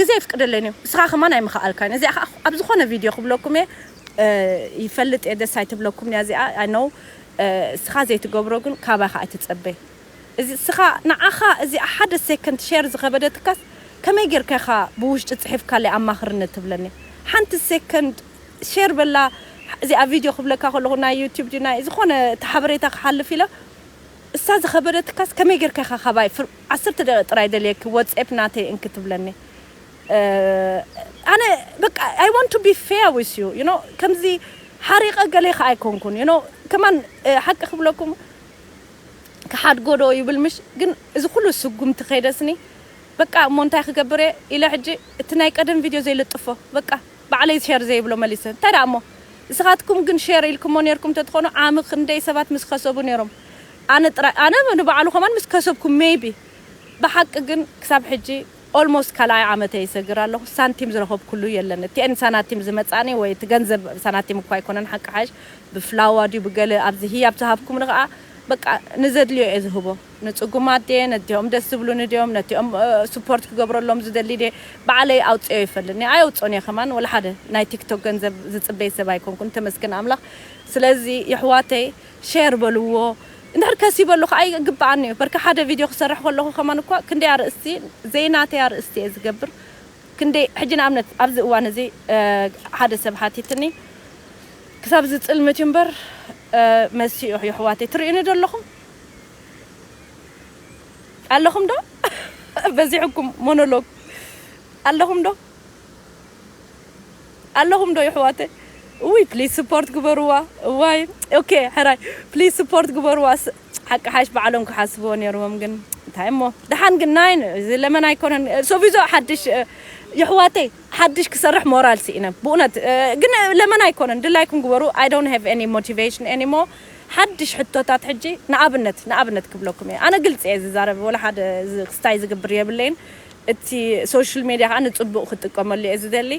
ግዜ ኣይፍቅደለይን እዩ እስኻ ከማን ኣይምኸኣልካን እዚኣ ከኣ ኣብ ዝኾነ ቪድዮ ክብለኩም እየ ይፈልጥ እየ ደስ ኣይትብለኩምን እያ እዚኣ ኣይ ኖው እስኻ ዘይትገብሮ ግን ካባኻ ኣይትጸበ እዚ እስኻ ንዓኻ እዚኣ ሓደ ሰከንድ ሼር ዝኸበደትካስ ከመይ ጌርካ ኢኻ ብውሽጢ ጽሒፍካለይ ኣማኽርኒ ትብለኒ ሓንቲ ሰከንድ ሼር በላ እዚኣ ቪድዮ ክብለካ ከለኹ ናይ ዩቱብ ድዩ ናይ ዝኾነ እቲ ሓበሬታ ክሓልፍ ኢለ እሳ ዝኸበደትካስ ከመይ ጌርካ ኢኻ ካባይ ዓሰርተ ደቂቅ ጥራይ ደልየኪ ወጼፕ ናተይ እንኪ ትብለኒ ኣነ በቃ ኣይ ዋንት ቱ ቢ ፌር ዊዝ ዩ ዩ ኖው ከምዚ ሓሪቀ ገሌ ከኣ ኣይኮንኩን ዩ ኖው ከማን ሓቂ ክብለኩም ክሓድጎ ዶ ይብል ምሽ ግን እዚ ኩሉ ስጉምቲ ከይደስኒ በቃ እሞ እንታይ ክገብር እየ ኢለ ሕጂ እቲ ናይ ቀደም ቪድዮ ዘይልጥፎ በቃ ባዕለይ ሸር ዘይብሎ መሊሰ እንታይ ደኣ እሞ ንስኻትኩም ግን ሸር ኢልክሞ ኔርኩም ተትኾኑ ዓሚ ክንደይ ሰባት ምስ ከሰቡ ኔሮም ኣነ ጥራይ ኣነ ንባዕሉ ከማን ምስ ከሰብኩ ሜይቢ ብሓቂ ግን ክሳብ ሕጂ ኦልሞስት ካልኣይ ዓመተይ ይሰግር ኣለኹ ሳንቲም ዝረኸብኩሉ የለን እቲኤን ሳናቲም ዝመጻኒ ወይ እቲ ገንዘብ ሳናቲም እኳ ኣይኮነን ሓቂ ሓሽ ብፍላዋ ድዩ ብገለ ኣብዚ ህያብ ዝሃብኩምኒ ከኣ በቃ ንዘድልዮ እየ ዝህቦ ንጽጉማት ድየ ነቲኦም ደስ ዝብሉኒ ድዮም ነቲኦም ስፖርት ክገብረሎም ዝደሊ ድየ ባዕለይ ኣውጽኤዮ ይፈልኒ ኣየውጽኦን እየ ከማን ወላሓደ ናይ ቲክቶክ ገንዘብ ዝጽበይ ሰብ ኣይኮንኩን ተመስገን ኣምላኽ ስለዚ የሕዋተይ ሼር በልዎ እንድሕር ከሲበሉ ከኣ ይግብኣኒ እዩ በርካ ሓደ ቪድዮ ክሰርሕ ከለኹ ከማን እኳ ክንደይ ኣርእስቲ ዘይናተይ ኣርእስቲ እየ ዝገብር ክንደይ ሕጂ ንኣብነት ኣብዚ እዋን እዚ ሓደ ሰብ ሓቲትኒ ክሳብ ዝጽልምት እዩ እምበር መሲኡ የሕዋተይ ትርእዩኒ ዶ ኣለኹም ኣለኹም ዶ በዚሕኩም ሞኖሎግ ኣለኹም ዶ ኣለኹም ዶ የሕዋተይ እውይ ፕሊስ ስፖርት ግበርዋ እዋይ ኦኬ ሕራይ ፕሊስ ስፖርት ግበርዋ ሓቂ ሓሽ ባዕሎም ክሓስብዎ ነይርዎም ግን እንታይ እሞ ደሓን ግን ናይ እዚ ለመን ኣይኮነን ሶቪዞ ሓድሽ የሕዋተይ ሓድሽ ክሰርሕ ሞራል ስኢነ ብእውነት ግን ለመን ኣይኮነን ድላይኩም ግበሩ ኣይ ዶንት ሃቭ ኤኒ ሞቲቬሽን ኤኒሞ ሓድሽ ሕቶታት ሕጂ ንኣብነት ንኣብነት ክብለኩም እየ ኣነ ግልፂ እየ ዝዛረብ ወላ ሓደ ክስታይ ዝግብር የብለይን እቲ ሶሽል ሜድያ ከኣ ንጽቡቅ ክትጥቀመሉ እየ ዝደሊ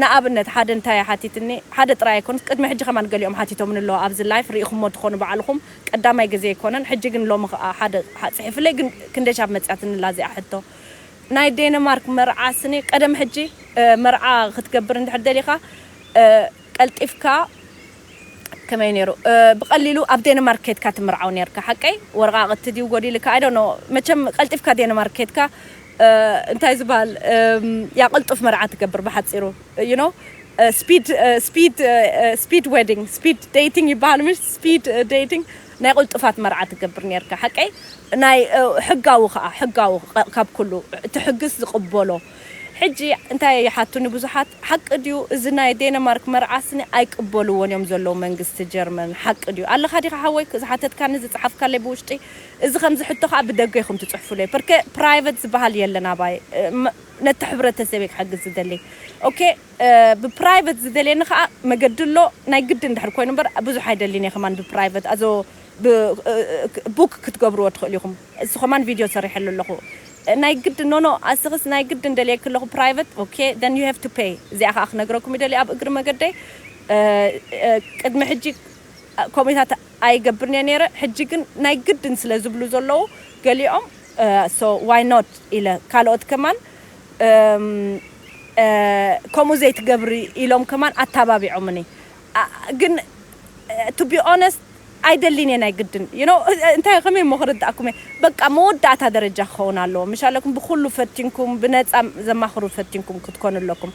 ንኣብነት ሓደ እንታይ ሓቲትኒ ሓደ ጥራይ ኣይኮነስ ቅድሚ ሕጂ ከማን ገሊኦም ሓቲቶምኒ ኣለዉ ኣብዚ ላይፍ ሪኢኹሞ ትኾኑ ባዕልኹም ቀዳማይ ግዜ ኣይኮነን ሕጂ ግን ሎሚ ከኣ ሓደ ጽሒፍለይ ግን ክንደይ ሻብ መጽያትኒ ኣላ እዚኣ ሕቶ ናይ ዴንማርክ መርዓ ስኒ ቀደም ሕጂ መርዓ ክትገብር እንድሕር ደሊኻ ቀልጢፍካ ከመይ ኔሩ ብቀሊሉ ኣብ ዴንማርክ ኬድካ ትምርዓው ኔርካ ሓቀይ ወረቃቅቲ ድዩ ጎዲልካ ኣይ ዶንት ኖው መቸም ቀልጢፍካ ዴንማርክ ኬድካ እንታይ ዝባሃል ያ ቅልጡፍ መርዓ ትገብር ብሓጺሩ ዩ ኖው ስፒድ ስፒድ ስፒድ ዌዲንግ ስፒድ ዴቲንግ ይባሃል ምሽ ስፒድ ዴቲንግ ናይ ቅልጡፋት መርዓ ትገብር ኔርካ ሓቀይ ናይ ሕጋዊ ከኣ ሕጋዊ ካብ ኩሉ እቲ ሕግስ ዝቅበሎ ሕጂ እንታይ እየ ይሓቱኒ ብዙሓት ሓቂ ድዩ እዚ ናይ ዴነማርክ መርዓ ስኒ ኣይቅበልዎን እዮም ዘለዉ መንግስቲ ጀርመን ሓቂ ድዩ ኣለኻ ዲኻ ሓወይ ዝሓተትካኒ ዝጸሓፍካለይ ብውሽጢ እዚ ከምዚ ሕቶ ከኣ ብደገ ኢኹም ትጽሕፉለይ ፐርከ ፕራይቨት ዝበሃል የለን ኣባይ ነቲ ሕብረተሰብ እየ ክሕግዝ ዝደሊ ኦኬ ብፕራይቨት ዝደልየኒ ከኣ መገዲ ኣሎ ናይ ግድን ድሕሪ ኮይኑ እምበር ብዙሕ ኣይደሊን እየ ከማን ብፕራይቨት ኣዞ ብ ቡክ ክትገብርዎ ትኽእሉ ኢኹም። እሱ ከማን ቪድዮ ሰሪሐሉ ኣለኩ ናይ ግድን ኖኖ ኣስክስ ናይ ግድን ደልየኪ ኣለኩ ፕራይቨት ኦኬ then you have to pay እዚኣ ከኣ ክነግረኩም ይደሊ ኣብ እግሪ መገደይ ቅድሚ ሕጂ ኮሜታት ኣይገብርን እየ ነይረ ሕጂ ግን ናይ ግድን ስለ ዝብሉ ዘለዉ ገሊኦም so why not ኢለ ካልኦት ከማን ከምኡ ዘይትገብሪ ኢሎም ከማን ኣታባቢዖምኒ ግን to be honest ኣይደሊን እየ ናይ ግድን you know እንታይ ከመይ እሞ ክርድኣኩም እየ በቃ መወዳእታ ደረጃ ክኸውን ኣለዎ ምሽ ኣለኩም ብኩሉ ፈቲንኩም ብነጻ ዘማኽሩ ፈቲንኩም ክትኮኑ ኣለኩም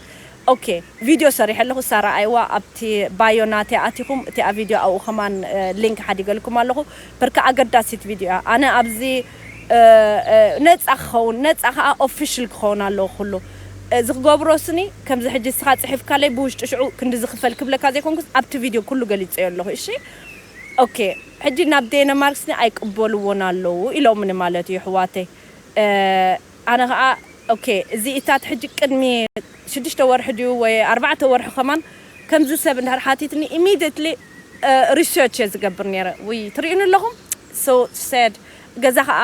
ኦኬ ቪድዮ ሰሪሐ ኣለኹ እሳ ረኣይዋ ኣብቲ ባዮ ናተይ ኣቲኹም እቲኣ ቪድዮ ኣብኡ ከማን ሊንክ ሓዲገልኩም ኣለኹ በርካ ኣገዳሲት ቪድዮ እያ ኣነ ኣብዚ ነጻ ክኸውን ነጻ ከኣ ኦፍሽል ክኸውን ኣለዎ ኩሉ እዚ ክገብሮ ስኒ ከምዚ ሕጂ እስኻ ጽሒፍካለይ ብውሽጢ ሽዑ ክንድዚ ክፈል ክብለካ ዘይኮንኩስ ኣብቲ ቪድዮ ኩሉ ገሊጸዮ ኣለኹ እሺ ኦኬ ሕጂ ናብ ዴነማርክ ስኒ ኣይቅበልዎን ኣለዉ ኢሎምኒ ማለት እዩ ኣሕዋተይ ኣነ ከኣ ኦኬ እዚ እታት ሕጂ ቅድሚ ሽዱሽተ ወርሒ ድዩ ወይ ኣርባዕተ ወርሒ ከማን ከምዚ ሰብ እንድሕር ሓቲትኒ ኢሚድየትሊ ሪሰርች እየ ዝገብር ኔረ ውይ ትርእዩኒ ኣለኹም so sad ገዛ ከኣ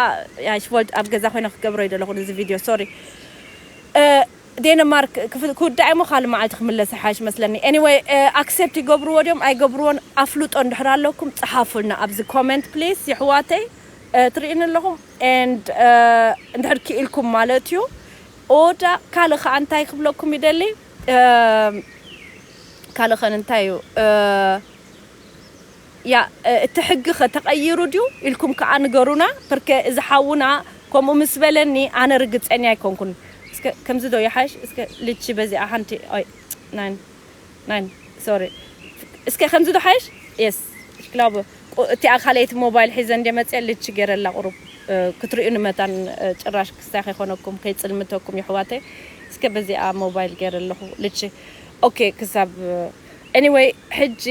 ያሽ ወልድ ኣብ ገዛ ኮይነ ክገብሮ ይደለኹ ንዚ ቪድዮ ሶሪ ዴንማርክ ክውዳእ እሞ ካልእ መዓልቲ ክምለስ ይሓይሽ መስለኒ ኤኒወይ ኣክሴፕት ይገብርዎ ድዮም ኣይገብርዎን ኣፍልጦ እንድሕር ኣለኩም ጽሓፉልና ኣብዚ ኮመንት ፕሊስ ይሕዋተይ ትርእዩኒ ኣለኹም ኤንድ እንድሕር ክኢልኩም ማለት እዩ ኦዳ ካልእ ከዓ እንታይ ክብለኩም ይደሊ ካልእ ከን እንታይ እዩ ያእ እቲ ሕጊ ከ ተቀይሩ ድዩ ኢልኩም ከኣ ንገሩና ፕርከ እዚ ሓውና ከምኡ ምስ በለኒ ኣነ ርግጸኛ ኣይኮንኩን እስከ ከምዚ ዶ ይሓሽ እስከ ልቺ በዚኣ ሓንቲ ኦይ ናይን ናይን ሶሪ እስከ ከምዚ ዶ ሓይሽ የስ ሽክላቡ ቁ እቲኣ ካልኣይቲ ሞባይል ሒዘ እንድየ መጽየ ልቺ ጌረላ ቁሩብ ክትርእዩኒ መታን ጭራሽ ክስታይ ከይኮነኩም ከይጽልምተኩም የሕዋተይ እስከ በዚኣ ሞባይል ጌረ ኣለኹ ልቺ ኦኬ ክሳብ Anyway ሕጂ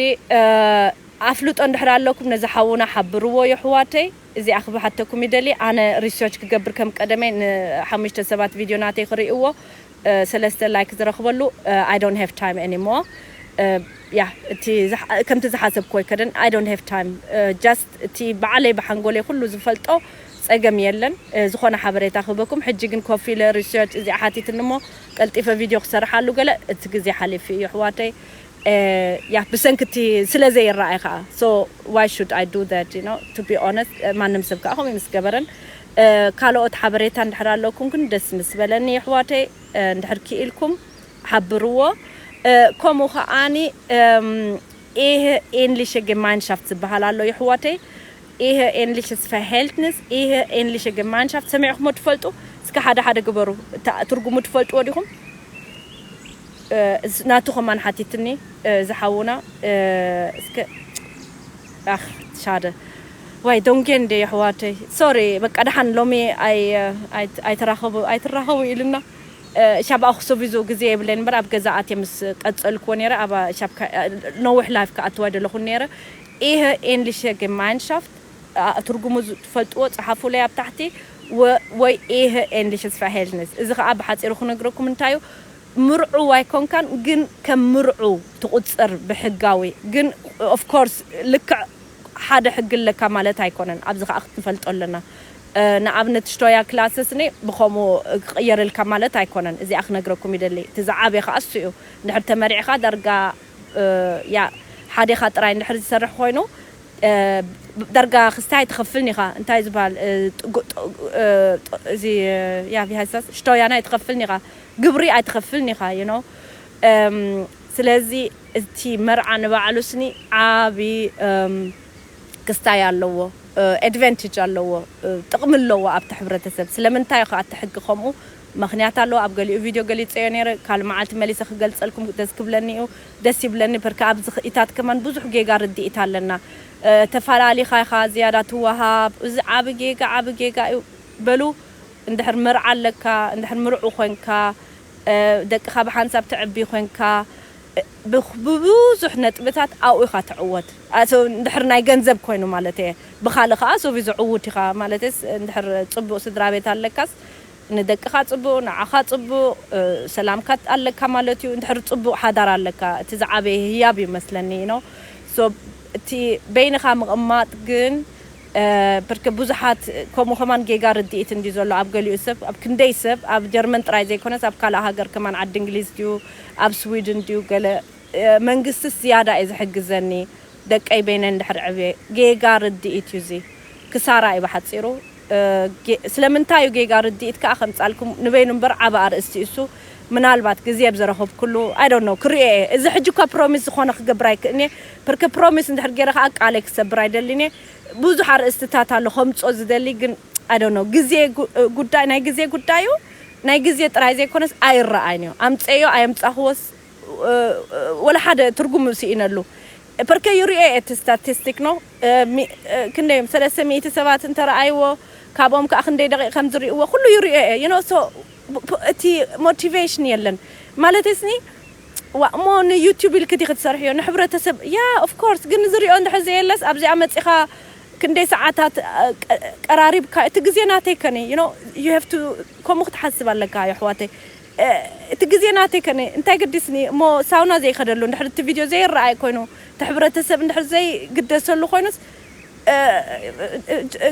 ኣፍልጦ እንድሕር ኣለኩም ነዚ ሓውና ሓብርዎ የሕዋተይ እዚኣ ክብሓተኩም ይደሊ ኣነ ሪሶች ክገብር ከም ቀደመይ ን ሓሙሽተ ሰባት ቪድዮ ናተይ ክሪእዎ ሰለስተ ላይክ ዝረክበሉ I don't have time anymore ያህ እቲ ከምቲ ዝሓሰብክዎ ኣይከደን I don't have time just እቲ ብዓለይ ብሓንጎለይ ኩሉ ዝፈልጦ ጸገም የለን ዝኮነ ሓበሬታ ክህበኩም ሕጂ ግን ኮፍ ኢለ ሪሶች እዚኣ ሓቲትኒ እሞ ቀልጢፈ ቪድዮ ክሰርሓሉ ገለ እቲ ግዜ ሓሊፊ እዩ ኣሕዋተይ ያ ብሰንኪ እቲ ስለ ዘይረኣይ ከኣ so why should I do that you know to be honest ማንም ሰብ ከኣ ከምኡ ምስ ገበረን ካልኦት ሓበሬታ እንድሕር ኣለኩም ግን ደስ ምስ በለኒ ኣሕዋተይ እንድሕር ክኢልኩም ሓብርዎ ከምኡ ከኣ ኢህ ኤንሊሸ ጌማይንሻፍት ዝበሃል ኣሎ የሕዋተይ ኢህ ኤንሊሸስ ፈሀልትንስ ኢህ ኤንሊሸ ጌማይንሻፍት ሰሚዕክሞ ትፈልጡ እስከ ሓደ ሓደ ግበሩ እታ ትርጉሙ ትፈልጥዎ ዲኩም ናቱ ከማን ሓቲትኒ እዚ ሓውና እስከ ኣኽ ሻደ ዋይ ዶንጌ እንዴ የሕዋተይ ሶሪ በቃ ደሓን ሎሚ ኣይ ኣይ ኣይተራኸቡ ኣይትራኸቡ ኢሉና ሻብ ኣክሱቪዙ ግዜ የብለይን እምበር ኣብ ገዛ ኣትየ ምስ ቀጸልክዎ ነይረ ኣብ ሻብ ነዊሕ ላይፍ ክኣትዋ ደለኹ ነይረ ኢህ ኤንሊሸ ጌማይንሻፍት ትርጉሙ ትፈልጥዎ ጽሓፉለይ ኣብ ታሕቲ ወይ ኢህ ኤንሊሽስ ፋሄልንስ እዚ ከኣ ብሓጺሩ ክነግረኩም እንታዩ ምርዑው ኣይኮንካን ግን ከም ምርዑው ትቁጸር ብሕጋዊ ግን ኦፍኮርስ ልክዕ ሓደ ሕጊ ኣለካ ማለት ኣይኮነን ኣብዚ ከኣ ክትንፈልጦ ኣለና ንኣብነት ሽቶያ ክላሰ ስኒ ብከምኡ ክቅየርልካ ማለት ኣይኮነን እዚኣ ክነግረኩም ይደሊ እቲ ዝዓበየ ከኣ እሱ እዩ እንድሕር ተመሪዕካ ዳርጋ ያእ ሓዴካ ጥራይ እንድሕር ዝሰርሕ ኮይኑ ዳርጋ ክስታይ ኣይትከፍልን ኢካ እንታይ እዩ ዝባሃል እዚ ያእ ቪ ሃይሳስ ሽቶያን ኣይትከፍልን ኢካ ግብሪ ኣይትከፍልን ኢካ ዩ ኖው ስለዚ እቲ መርዓ ንባዕሉ ስኒ ዓቢ ክስታይ ኣለዎ Advantage ኣለዎ ጥቅሚ ኣለዎ ኣብቲ ሕብረተሰብ ስለምንታይ እዩ ከኣ እቲ ሕጊ ከምኡ መክንያት ኣለዎ ኣብ ገሊኡ ቪድዮ ገሊጸዮ ነይረ ካልእ መዓልቲ መሊሰ ክገልጸልኩም ደስ ክብለኒ እዩ ደስ ይብለኒ በርከ ኣብዚ ክኢታት ከማን ብዙሕ ጌጋ ርድኢት ኣለና ተፋላሊካ ኢካ ዝያዳ ትዋሃብ እዚ ዓቢ ጌጋ ዓቢ ጌጋ እዩ በሉ እንድሕር መርዓ ኣለካ እንድሕር ምርዑው ኮንካ ደቅካ ብሓንሳብ ተዕቢ ኮንካ ብብዙሕ ነጥብታት ኣብኡ ኢኻ ትዕወት እንድሕር ናይ ገንዘብ ኮይኑ ማለተይ እየ ብኻልእ ኸኣ ሶቪ ዝዕውት ኢኻ ማለተይስ እንድሕር ጽቡቅ ስድራቤት ኣለካስ ንደቅኻ ጽቡቅ ንዓኻ ጽቡቅ ሰላምካ ኣለካ ማለት እዩ እንድሕር ጽቡቅ ሓዳር ኣለካ እቲ ዝዓበየ ህያብ እዩ መስለኒ you know so እቲ በይንኻ ምቅማጥ ግን ብርክ ብዙሓት ከምኡ ከማን ጌጋ ርድኢት እንድዩ ዘሎ ኣብ ገሊኡ ሰብ ኣብ ክንደይ ሰብ ኣብ ጀርመን ጥራይ ዘይኮነስ ኣብ ካልእ ሃገር ከማን ዓዲ እንግሊዝ ድዩ ኣብ ስዊድን ድዩ ገለ መንግስትስ ዝያዳ እዩ ዝሕግዘኒ ደቀይ በይነን እንድሕር ዕብየ ጌጋ ርድኢት እዩ እዚ ክሳራ እዩ ብሓጺሩ ስለምንታይ እዩ ጌጋ ርድኢት ከኣ ከምጻልኩም ንበይኑ እምበር ዓቢ ኣርእስቲ እዩ እሱ ምናልባት ግዜ ኣብ ዘረኹብኩሉ I don't know ክርእዮ እየ እዚ ሕጂ እኳ ፕሮሚስ ዝኾነ ክገብር ኣይክእልን እየ ብርክ ፕሮሚስ እንድሕር ጌረ ከኣ ቃለይ ክሰብር ኣይደልን እየ ብዙሕ ኣርእስትታት ኣሎ ከምጾ ዝደሊ ግን I don't know ግዜ ጉዳይ ናይ ግዜ ጉዳይ እዩ ናይ ግዜ ጥራይ ዘይኮነስ ኣይረኣይን እዩ ኣምጸዮ ኣየምጻኹዎስ ወላ ሓደ ትርጉም ስኢነሉ ፐርከ ይርእዮ እየ እቲ ስታቲስቲክ ኖ ክንደይ እዮም ሰለስተ ሚእቲ ሰባት እንተረኣይዎ ካብኦም ከኣ ክንደይ ደቂቕ ከም ዝርእይዎ ኩሉ ይርእዮ እየ you know so እቲ ሞቲቬሽን የለን ማለተይስኒ ዋእ እሞ ን ዩቱብ ኢልኪ ዲኪ ትሰርሕዮ ን ሕብረተሰብ ያ ኦፍ ኮርስ ግን ዝሪኦ እንድሕር ዘየለስ ኣብዚኣ መፂካ ክንደይ ሰዓታት ቀራሪብካ እቲ ግዜ ናተይ ከ ዩ ኖው ዩ ሀቭ ቱ ከምኡ ክትሓስብ ኣለካ የሕዋተይ እቲ ግዜ ናተይ ከ እንታይ ገዲስኒ እሞ ሳውና ዘይከደሉ እንድሕር እቲ ቪድዮ ዘይረኣይ ኮይኑ እቲ ሕብረተሰብ እንድሕር ዘይግደሰሉ ኮይኑስ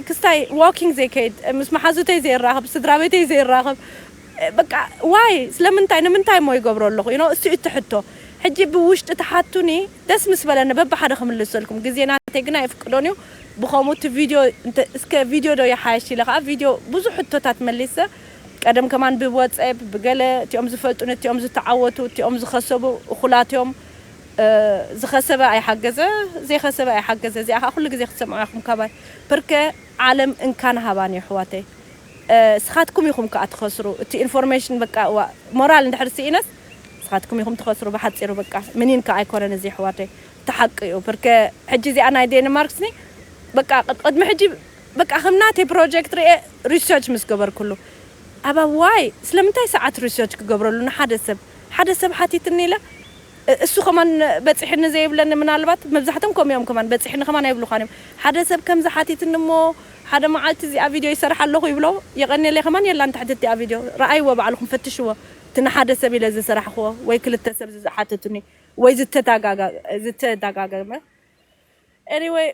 ክስታይ ዋኪንግ ዘይከይድ ምስ መሓዙተይ ዘይራኸብ ስድራቤተይ ዘይራኸብ በቃ ዋይ ስለምንታይ ንምንታይ እሞ ይገብሮ ኣለኹ ዩ ኖው እሱ ዩ እቲ ሕቶ ሕጂ ብውሽጢ ትሓቱኒ ደስ ምስ በለኒ በብሓደ ክምልሰልኩም ግዜ ናተይ ግን ኣይፍቅዶን ዩ ብኸምኡ እቲ ቪድዮ እስከ ቪድዮ ዶ ይሓይሽ ኢለ ከኣ ቪድዮ ብዙሕ ሕቶታት መሊሰ ቀደም ከማን ብወጸብ ብገለ እቲኦም ዝፈልጡኒ እቲኦም ዝተዓወቱ እቲኦም ዝኸሰቡ እኹላት ዮም ዝኸሰበ ኣይሓገዘ ዘይኸሰበ ኣይሓገዘ እዚኣ ከኣ ኩሉ ግዜ ክትሰምዕዋ ኢኹም ካባይ ፕርከ ዓለም እንካን ሃባን እዩ ኣሕዋተይ ስኻትኩም ኢኹም ከኣ ትኸስሩ እቲ ኢንፎርሜሽን በቃ እዋእ ሞራል እንድሕር ሲኢነስ ስኻትኩም ኢኹም ትኸስሩ ብሓጺሩ በቃ ምኒን ከኣ ኣይኮነን እዚ ኣሕዋተይ እቲ ሓቂ እዩ ፕርከ ሕጂ እዚኣ ናይ ዴንማርክስኒ በቃ ቅድሚ ሕጂ በቃ ከም ናተይ ፕሮጀክት ሪኤ ሪሰርች ምስ ገበርኩሉ ኣባ ዋይ ስለምንታይ ሰዓት ሪሰርች ክገብረሉ ንሓደ ሰብ ሓደ ሰብ ሓቲትኒ ኢለ እሱ ከማን በጺሕኒ ዘይብለኒ ምናልባት መብዛሕቶም ከምኡ እዮም ከማን በጺሕኒ ከማን ኣይብሉኻን እዮም ሓደ ሰብ ከምዚ ሓቲትኒ እሞ ሓደ መዓልቲ እዚኣ ቪድዮ ይሰርሕ ኣለኹ ይብሎ የቀኔለይ ከማን የላን ትሕቲ እቲኣ ቪድዮ ረኣይዎ ባዕልኹም ፈትሽዎ እቲ ንሓደ ሰብ ኢለ ዝሰራሕኽዎ ወይ ክልተ ሰብ ዝሓተቱኒ ወይ ዝተዳጋገመ Anyway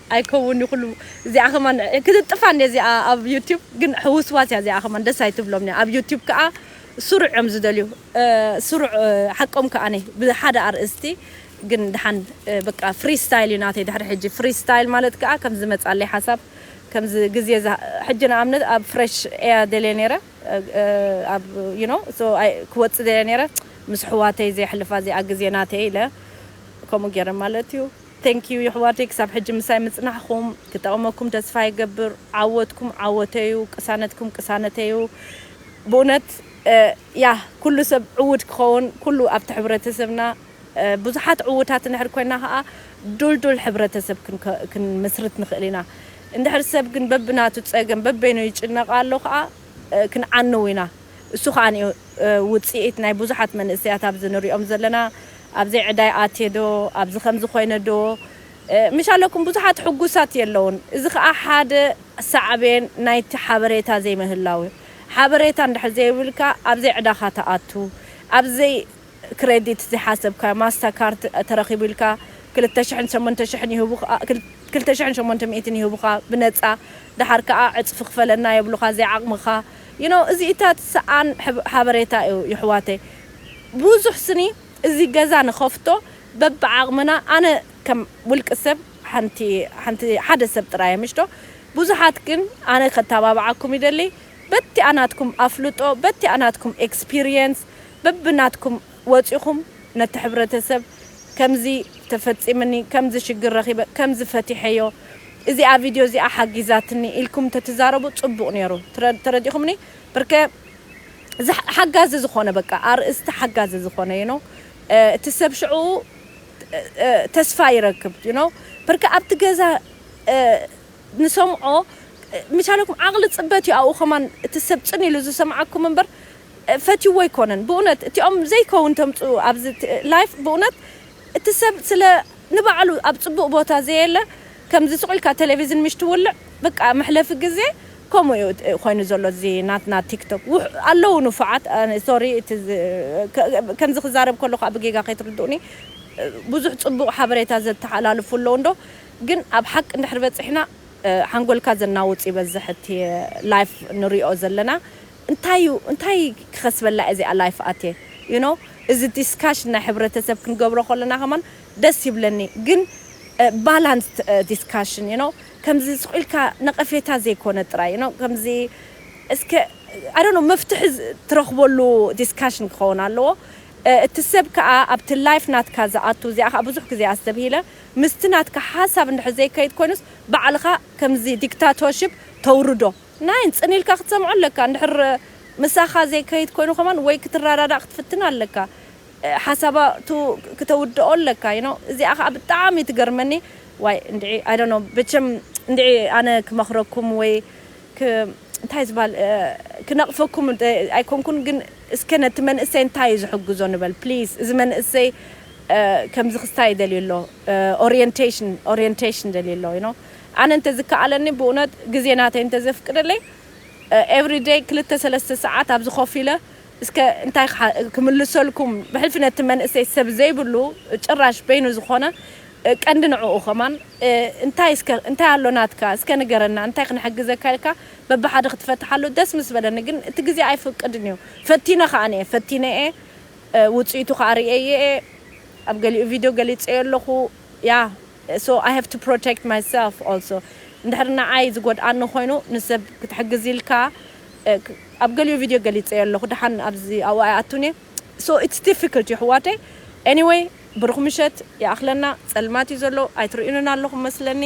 ኣይከውን ኩሉ እዚኣ ከማን ክትጥፋ እንድያ እዚኣ ኣብ ዩቱብ ግን ሕውስዋስ እያ እዚኣ ከማን ደስ ኣይትብሎም እንድያ ኣብ ዩቱብ ከኣ ስሩዕ እዮም ዝደልዩ ስሩዕ ሓቆም ከኣ ብሓደ ኣርእስቲ ግን ደሓን በቃ ፍሪ ስታይል እዩ ናተይ ድሕሪ ሕጂ ፍሪ ስታይል ማለት ከኣ ከም ዝመጻለይ ሓሳብ ከምዚ ግዜ ሕጂ ንኣብነት ኣብ ፍረሽ እያ ደልየ ነይረ ኣብ ዩ ኖ ሶ ክወጽእ ደልየ ነይረ ምስ ኣሕዋተይ ዘየሕልፋ እዚኣ ግዜ ናተይ ኢለ ከምኡ ገይረ ማለት እዩ። Thank you የሕዋተይ ክሳብ ሕጂ ምሳይ ምጽናሕኩም ክጠቅመኩም ተስፋ ይገብር ዓወትኩም ዓወተይ'ዩ ቅሳነትኩም ቅሳነተይ'ዩ ብኡነት ያህ ኩሉ ሰብ ዕዉት ክኾን ኩሉ ኣብቲ ሕብረተሰብና ብዙሓት ዕዉታት እንድሕር ኮይና ከኣ ዱልዱል ሕብረተሰብ ክንምስርት ንኽእል ኢና እንድሕር ሰብ ግን በብናቱ ጸገም በበይኑ ይጭነቅ ኣሎ ከኣ ክንዓኑ ኢና እሱ ከኣኒዩ ውጺኢት ናይ ቡዙሓት መንእሰያት ኣብዚ ንሪኦም ዘለና ኣብዘይ ዕዳይ ኣትየ ዶ ኣብዚ ከምዚ ኮይነ ዶ ምሽ ኣለኩም ቡዙሓት ሑጉሳት የለዉን እዚ ከኣ ሓደ ሳዕቤን ናይቲ ሓበሬታ ዘይምህላው እዩ ሓበሬታ እንድሕር ዘይብልካ ኣብዘይ ዕዳካ ትኣቱ ኣብዘይ ክረዲት ዘይሓሰብካዮ ማስታ ካርድ ተረኪቡ ኢልካ ክልተ ሽሕን ሸሞንተ ሽሕን ይህቡካ ክልተ ሽሕን ሸሞንተ ሚእትን ይህቡካ ብነጻ ደሓር ከኣ ዕጽፊ ክፈለና የብሉካ ዘይዓቅምካ you know እዚኢታት ሰኣን ሓበሬታ እዩ ይሕዋተይ ቡዙሕ ስኒ እዚ ገዛ ንከፍቶ በብዓቅምና ኣነ ከም ውልቂ ሰብ ሓንቲ ሓንቲ ሓደ ሰብ ጥራይ እየ ምሽዶ ቡዙሓት ግን ኣነ ከተባብዓኩም ይደሊ በቲኣ ናትኩም ኣፍልጦ በቲኣ ናትኩም experience በብናትኩም ወጺኹም ነቲ ሕብረተሰብ ከምዚ ተፈጺምኒ ከምዚ ሽግር ረኺበ ከምዚ ፈቲሐዮ እዚኣ ቪድዮ እዚኣ ሓጊዛትኒ ኢልኩም ተትዛረቡ ጽቡቅ ኔሩ ተረዲኹምኒ ብርከ ሓጋዚ ዝኾነ በቃ ኣርእስቲ ሓጋዚ ዝኾነ you know እቲ ሰብ ሽዑኡ ተስፋ ይረክብ you know ብርከ ኣብቲ ገዛ ንሰምዖ ምቻለኩም ዓቅሊ ጽበት እዩ ኣብኡ ከማን እቲ ሰብ ጽን ኢሉ ዝሰምዓኩም እምበር ፈትይዎ ኣይኮነን ብኡነት እቲኦም ዘይከውን ተምጽኡ ኣብዚ ላይፍ ብኡነት እቲ ሰብ ስለ ንባዕሉ ኣብ ጽቡቅ ቦታ ዘየለ ከምዚ ሱቅ ኢልካ ተለቪዝን ምሽ ትውልዕ በቃ መሕለፊ ግዜ ከምኡ እዩ ኮይኑ ዘሎ እዚ ናትና ቲክቶክ ኣለዉ ንፉዓት ሶሪ እቲ ከምዚ ክዛረብ ከለኩ ከኣ ብጌጋ ከይትርድኡኒ ብዙሕ ጽቡቅ ሓበሬታ ዘተሓላልፉ ኣለዉ እንዶ ግን ኣብ ሓቂ እንድሕር በጺሕና ሓንጎልካ ዘናውጽ ይበዝሕ እቲ ላይፍ ንሪኦ ዘለና እንታይ እዩ እንታይ ክከስበላ እየ እዚኣ ላይፍ ኣትየ you know እዚ ዲስካሽን ናይ ሕብረተሰብ ክንገብሮ ከለና ከማን ደስ ይብለኒ ግን ባላንስድ ዲስካሽን you know ከምዚ ስቅ ኢልካ ነቀፌታ ዘይኮነ ጥራይ you know ከምዚ እስከ I don't know መፍትሒ ትረክበሉ ዲስካሽን ክከውን ኣለዎ እቲ ሰብ ከኣ ኣብቲ ላይፍ ናትካ ዝኣቱ እዚኣ ከኣ ብዙሕ ግዜ ኣስተብሂለ ምስቲ ናትካ ሓሳብ እንድሕር ዘይከይድ ኮይኑስ ባዕልካ ከምዚ ዲክታቶርሽፕ ተውርዶ ናይን ጽን ኢልካ ክትሰምዖ ኣለካ እንድሕር ምሳካ ዘይከይድ ኮይኑ ከማን ወይ ክትራዳዳእ ክትፍትን ኣለካ ሓሳባ ቱ ክተውድኦ ኣለካ you know እዚኣ ከኣ ብጣዓሚ ትገርመኒ ዋይ እንድዒ i don't know በቸም እንድዒ ኣነ ክመክረኩም ወይ ክ እንታይ ዝባሃል ክነቅፈኩም ኣይኮንኩን ግን እስከ ነቲ መንእሰይ እንታይ እዩ ዝሕግዞ ንበል please እዚ መንእሰይ ከምዚ ክስታይ ደልዩ ኣሎ orientation ደልዩ ኣሎ you know ኣነ እንተ ዝከኣለኒ ብኡነት ግዜ ናተይ እንተ ዘፍቅደለይ ኤቭሪ ደይ ክልተ ሰለስተ ሰዓት ኣብዚ ኮፍ ኢለ እስከ እንታይ ክምልሰልኩም ብሕልፊ ነቲ መንእሰይ ሰብ ዘይብሉ ጭራሽ በይኑ ዝኾነ ቀንዲ ንዕኡ ከማን እንታይ እስከ እንታይ ኣሎ ናትካ እስከ ንገረና እንታይ ክንሕግዘካ ኢልካ በብሓደ ክትፈትሓሉ ደስ ምስ በለኒ ግን እቲ ግዜ ኣይፍቅድን እዩ ፈቲነ ከኣኒ እየ ፈቲነ እየ ውጽኢቱ ከኣ ርእየዮ እየ ኣብ ገሊኡ ቪድዮ ገሊጸዮ ኣለኹ እያ so i have to protect myself also እንድሕር ንዓይ ዝጎድኣኒ ኮይኑ ንሰብ ክትሕግዝ ኢልካ ኣብ ገሊኡ ቪድዮ ገሊፀዮ ኣለኩ ደሓን ኣብዚ ኣብኡ ኣይኣቱን እየ so it's difficult የሕዋተይ anyway ብሩክ ምሸት ይኣክለና ፀልማት እዩ ዘሎ ኣይትርእዩንን ኣለኩም መስለኒ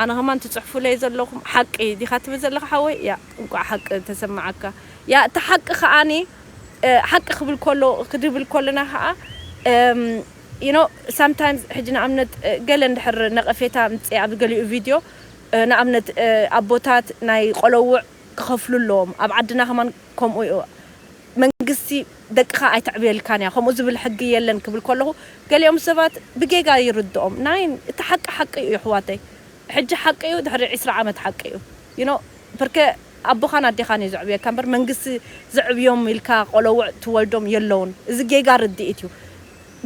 ኣነ ከማን ትፅሕፉለይ ዘለኩም ሓቂ ዲካ ትብል ዘለካ ሓወይ እያ እንቋዕ ሓቂ ተሰማዓካ እያ እታ ሓቂ ከዓኒ ሓቂ ክብል ከሎ ክድብል ከለና ከዓ you know sometimes ሕጂ ንኣብነት ገለ እንድሕር ነቐፌታ ኣምጺኤ ኣብ ገሊኡ ቪድዮ ንኣብነት ኣቦታት ናይ ቆለዉዕ ክኸፍሉ ኣለዎም ኣብ ዓድና ከማን ከምኡ እዩ መንግስቲ ደቅኻ ኣይተዕብየልካን እያ ከምኡ ዝብል ሕጊ የለን ክብል ከለኹ ገሊኦም ሰባት ብጌጋ ይርድኦም ናይ እቲ ሓቂ ሓቂ እዩ የሕዋተይ ሕጂ ሓቂ እዩ ድሕሪ ዕስራ ዓመት ሓቂ እዩ you know ፐርከ ኣቦኻን ኣዴኻን እዩ ዘዕብየካ እምበር መንግስቲ ዘዕብዮም ኢልካ ቆሎውዕ ትወልዶም የለውን እዚ ጌጋ ርድኢት እዩ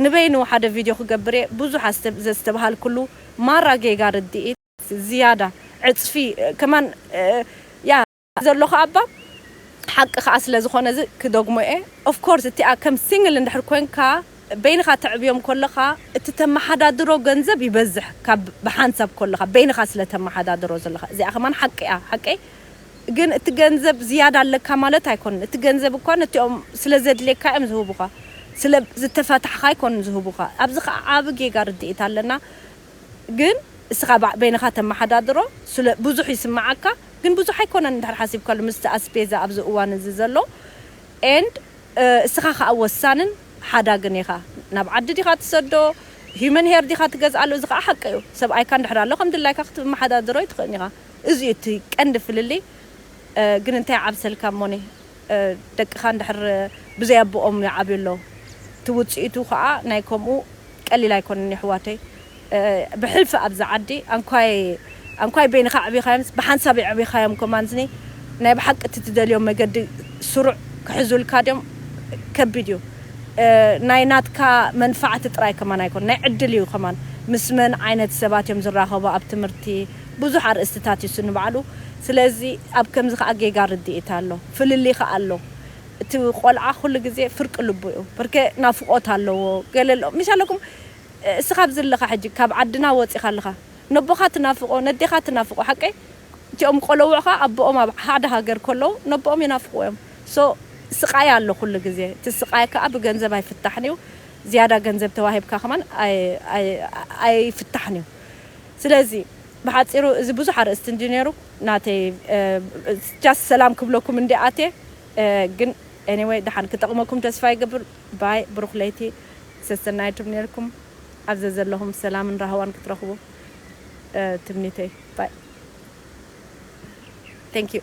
ንበይኑ ሓደ ቪድዮ ክገብር እየ ብዙሕ ዘስተብሃልኩሉ ማራ ጌጋ ርድኢት ዝያዳ ዕጽፊ ከማን እያ ዘሎኻ ኣባ ሓቂ ከኣ ስለ ዝኾነ እዚ ክደግሞ እየ of course እቲኣ ከም single እንድሕር ኮንካ። በይንኻ ተዕብዮም ኮለኻ እቲ ተማሓዳድሮ ገንዘብ ይበዝሕ ካብ ብሓንሳብ ኮለኻ በይንኻ ስለ ተማሓዳድሮ ዘለኻ እዚኣ ከማን ሓቂ እያ ሓቀይ ግን እቲ ገንዘብ ዝያዳ ኣለካ ማለት ኣይኮነን እቲ ገንዘብ እኳ ነቲኦም ስለ ዘድልየካ እዮም ዝህቡኻ ስለ ዝተፈታሕኻ ኣይኮኑን ዝህቡኻ ኣብዚ ከኣ ዓቢ ጌጋ ርድኢት ኣለና ግን እስኻ በይንኻ ተማሓዳድሮ ስለ ብዙሕ ይስመዓካ ግን ብዙሕ ኣይኮነን እንድሕር ሓሲብካሉ ምስቲ ኣስፔዛ ኣብዚ እዋን እዚ ዘሎ and እስኻ ከኣ ወሳንን ሓዳግን ኢኻ ናብ ዓዲ ዲኻ ትሰዶ Human Hair ዲኻ ትገዝኣሉ እዚ ከኣ ሓቂ እዩ ሰብኣይካ እንድሕር ኣሎ ከም ድላይካ ክትመሓዳድሮ ኣይትኽእልን ኢኻ እዚ እዩ እቲ ቀንዲ ፍልልይ ግን እንታይ ይዓብሰልካ እሞኒ ደቅኻ እንድሕር ብዘይ ኣቦኦም ይዓብዩ ኣለዉ እቲ ውጽኢቱ ከኣ ናይ ከምኡ ቀሊል ኣይኮነን የሕዋተይ ብሕልፊ ኣብዚ ዓዲ ኣንኳይ ኣንኳይ በይንካ ኣዕቢካዮምስ ብሓንሳብ የዕቢካዮም ከማንዝኒ ናይ ብሓቂ እቲ ትደልዮ መገዲ ስሩዕ ክሕዙልካ ድዮም ከቢድ እዩ ናይ ናትካ መንፋዕቲ ጥራይ ከማን ኣይኮነን ናይ ዕድል እዩ ከማን ምስ መን ዓይነት ሰባት እዮም ዝራከቡ ኣብ ትምህርቲ ብዙሕ ኣርእስትታት እዩ ንባዕሉ ስለዚ ኣብ ከምዚ ከኣ ጌጋ ርድኢት ኣሎ ፍልልይ ከኣ ኣሎ እቲ ቆልዓ ኩሉ ግዜ ፍርቂ ልቡ እዩ ብርኬ ናፍቆት ኣለዎ ገለ ኣሎ ምሽ ኣለኩም እስኻ ኣብዚ ኣለኻ ሕጂ ካብ ዓድና ወጺኻ ኣለኻ ነቦኻ ትናፍቆ ነዴኻ ትናፍቆ ሓቀይ እቲኦም ቆለውዕ ከኣ ኣቦኦም ኣብ ሓደ ሃገር ከለዉ ነቦኦም ይናፍቅዎ እዮም so ስቃይ ኣሎ ኩሉ ግዜ እቲ ስቃይ ከኣ ብገንዘብ ኣይፍታሕን እዩ ዝያዳ ገንዘብ ተዋሂብካ ከማን ኣይፍታሕን እዩ ስለዚ ብሓጺሩ እዚ ብዙሕ ኣርእስቲ እንድዩ ኔሩ። ናተይ ጃስት ሰላም ክብለኩም እንድየ ኣትየ ግን Anyway ደሓን ክጠቕመኩም ተስፋ ይገብር Bye ብሩኽ ለይቲ ሰሰናዩ ትምነየልኩም ኣብ ዘዘለኹም ሰላምን ራህዋን ክትረኽቡ ትምኒተይ Bye Thank you።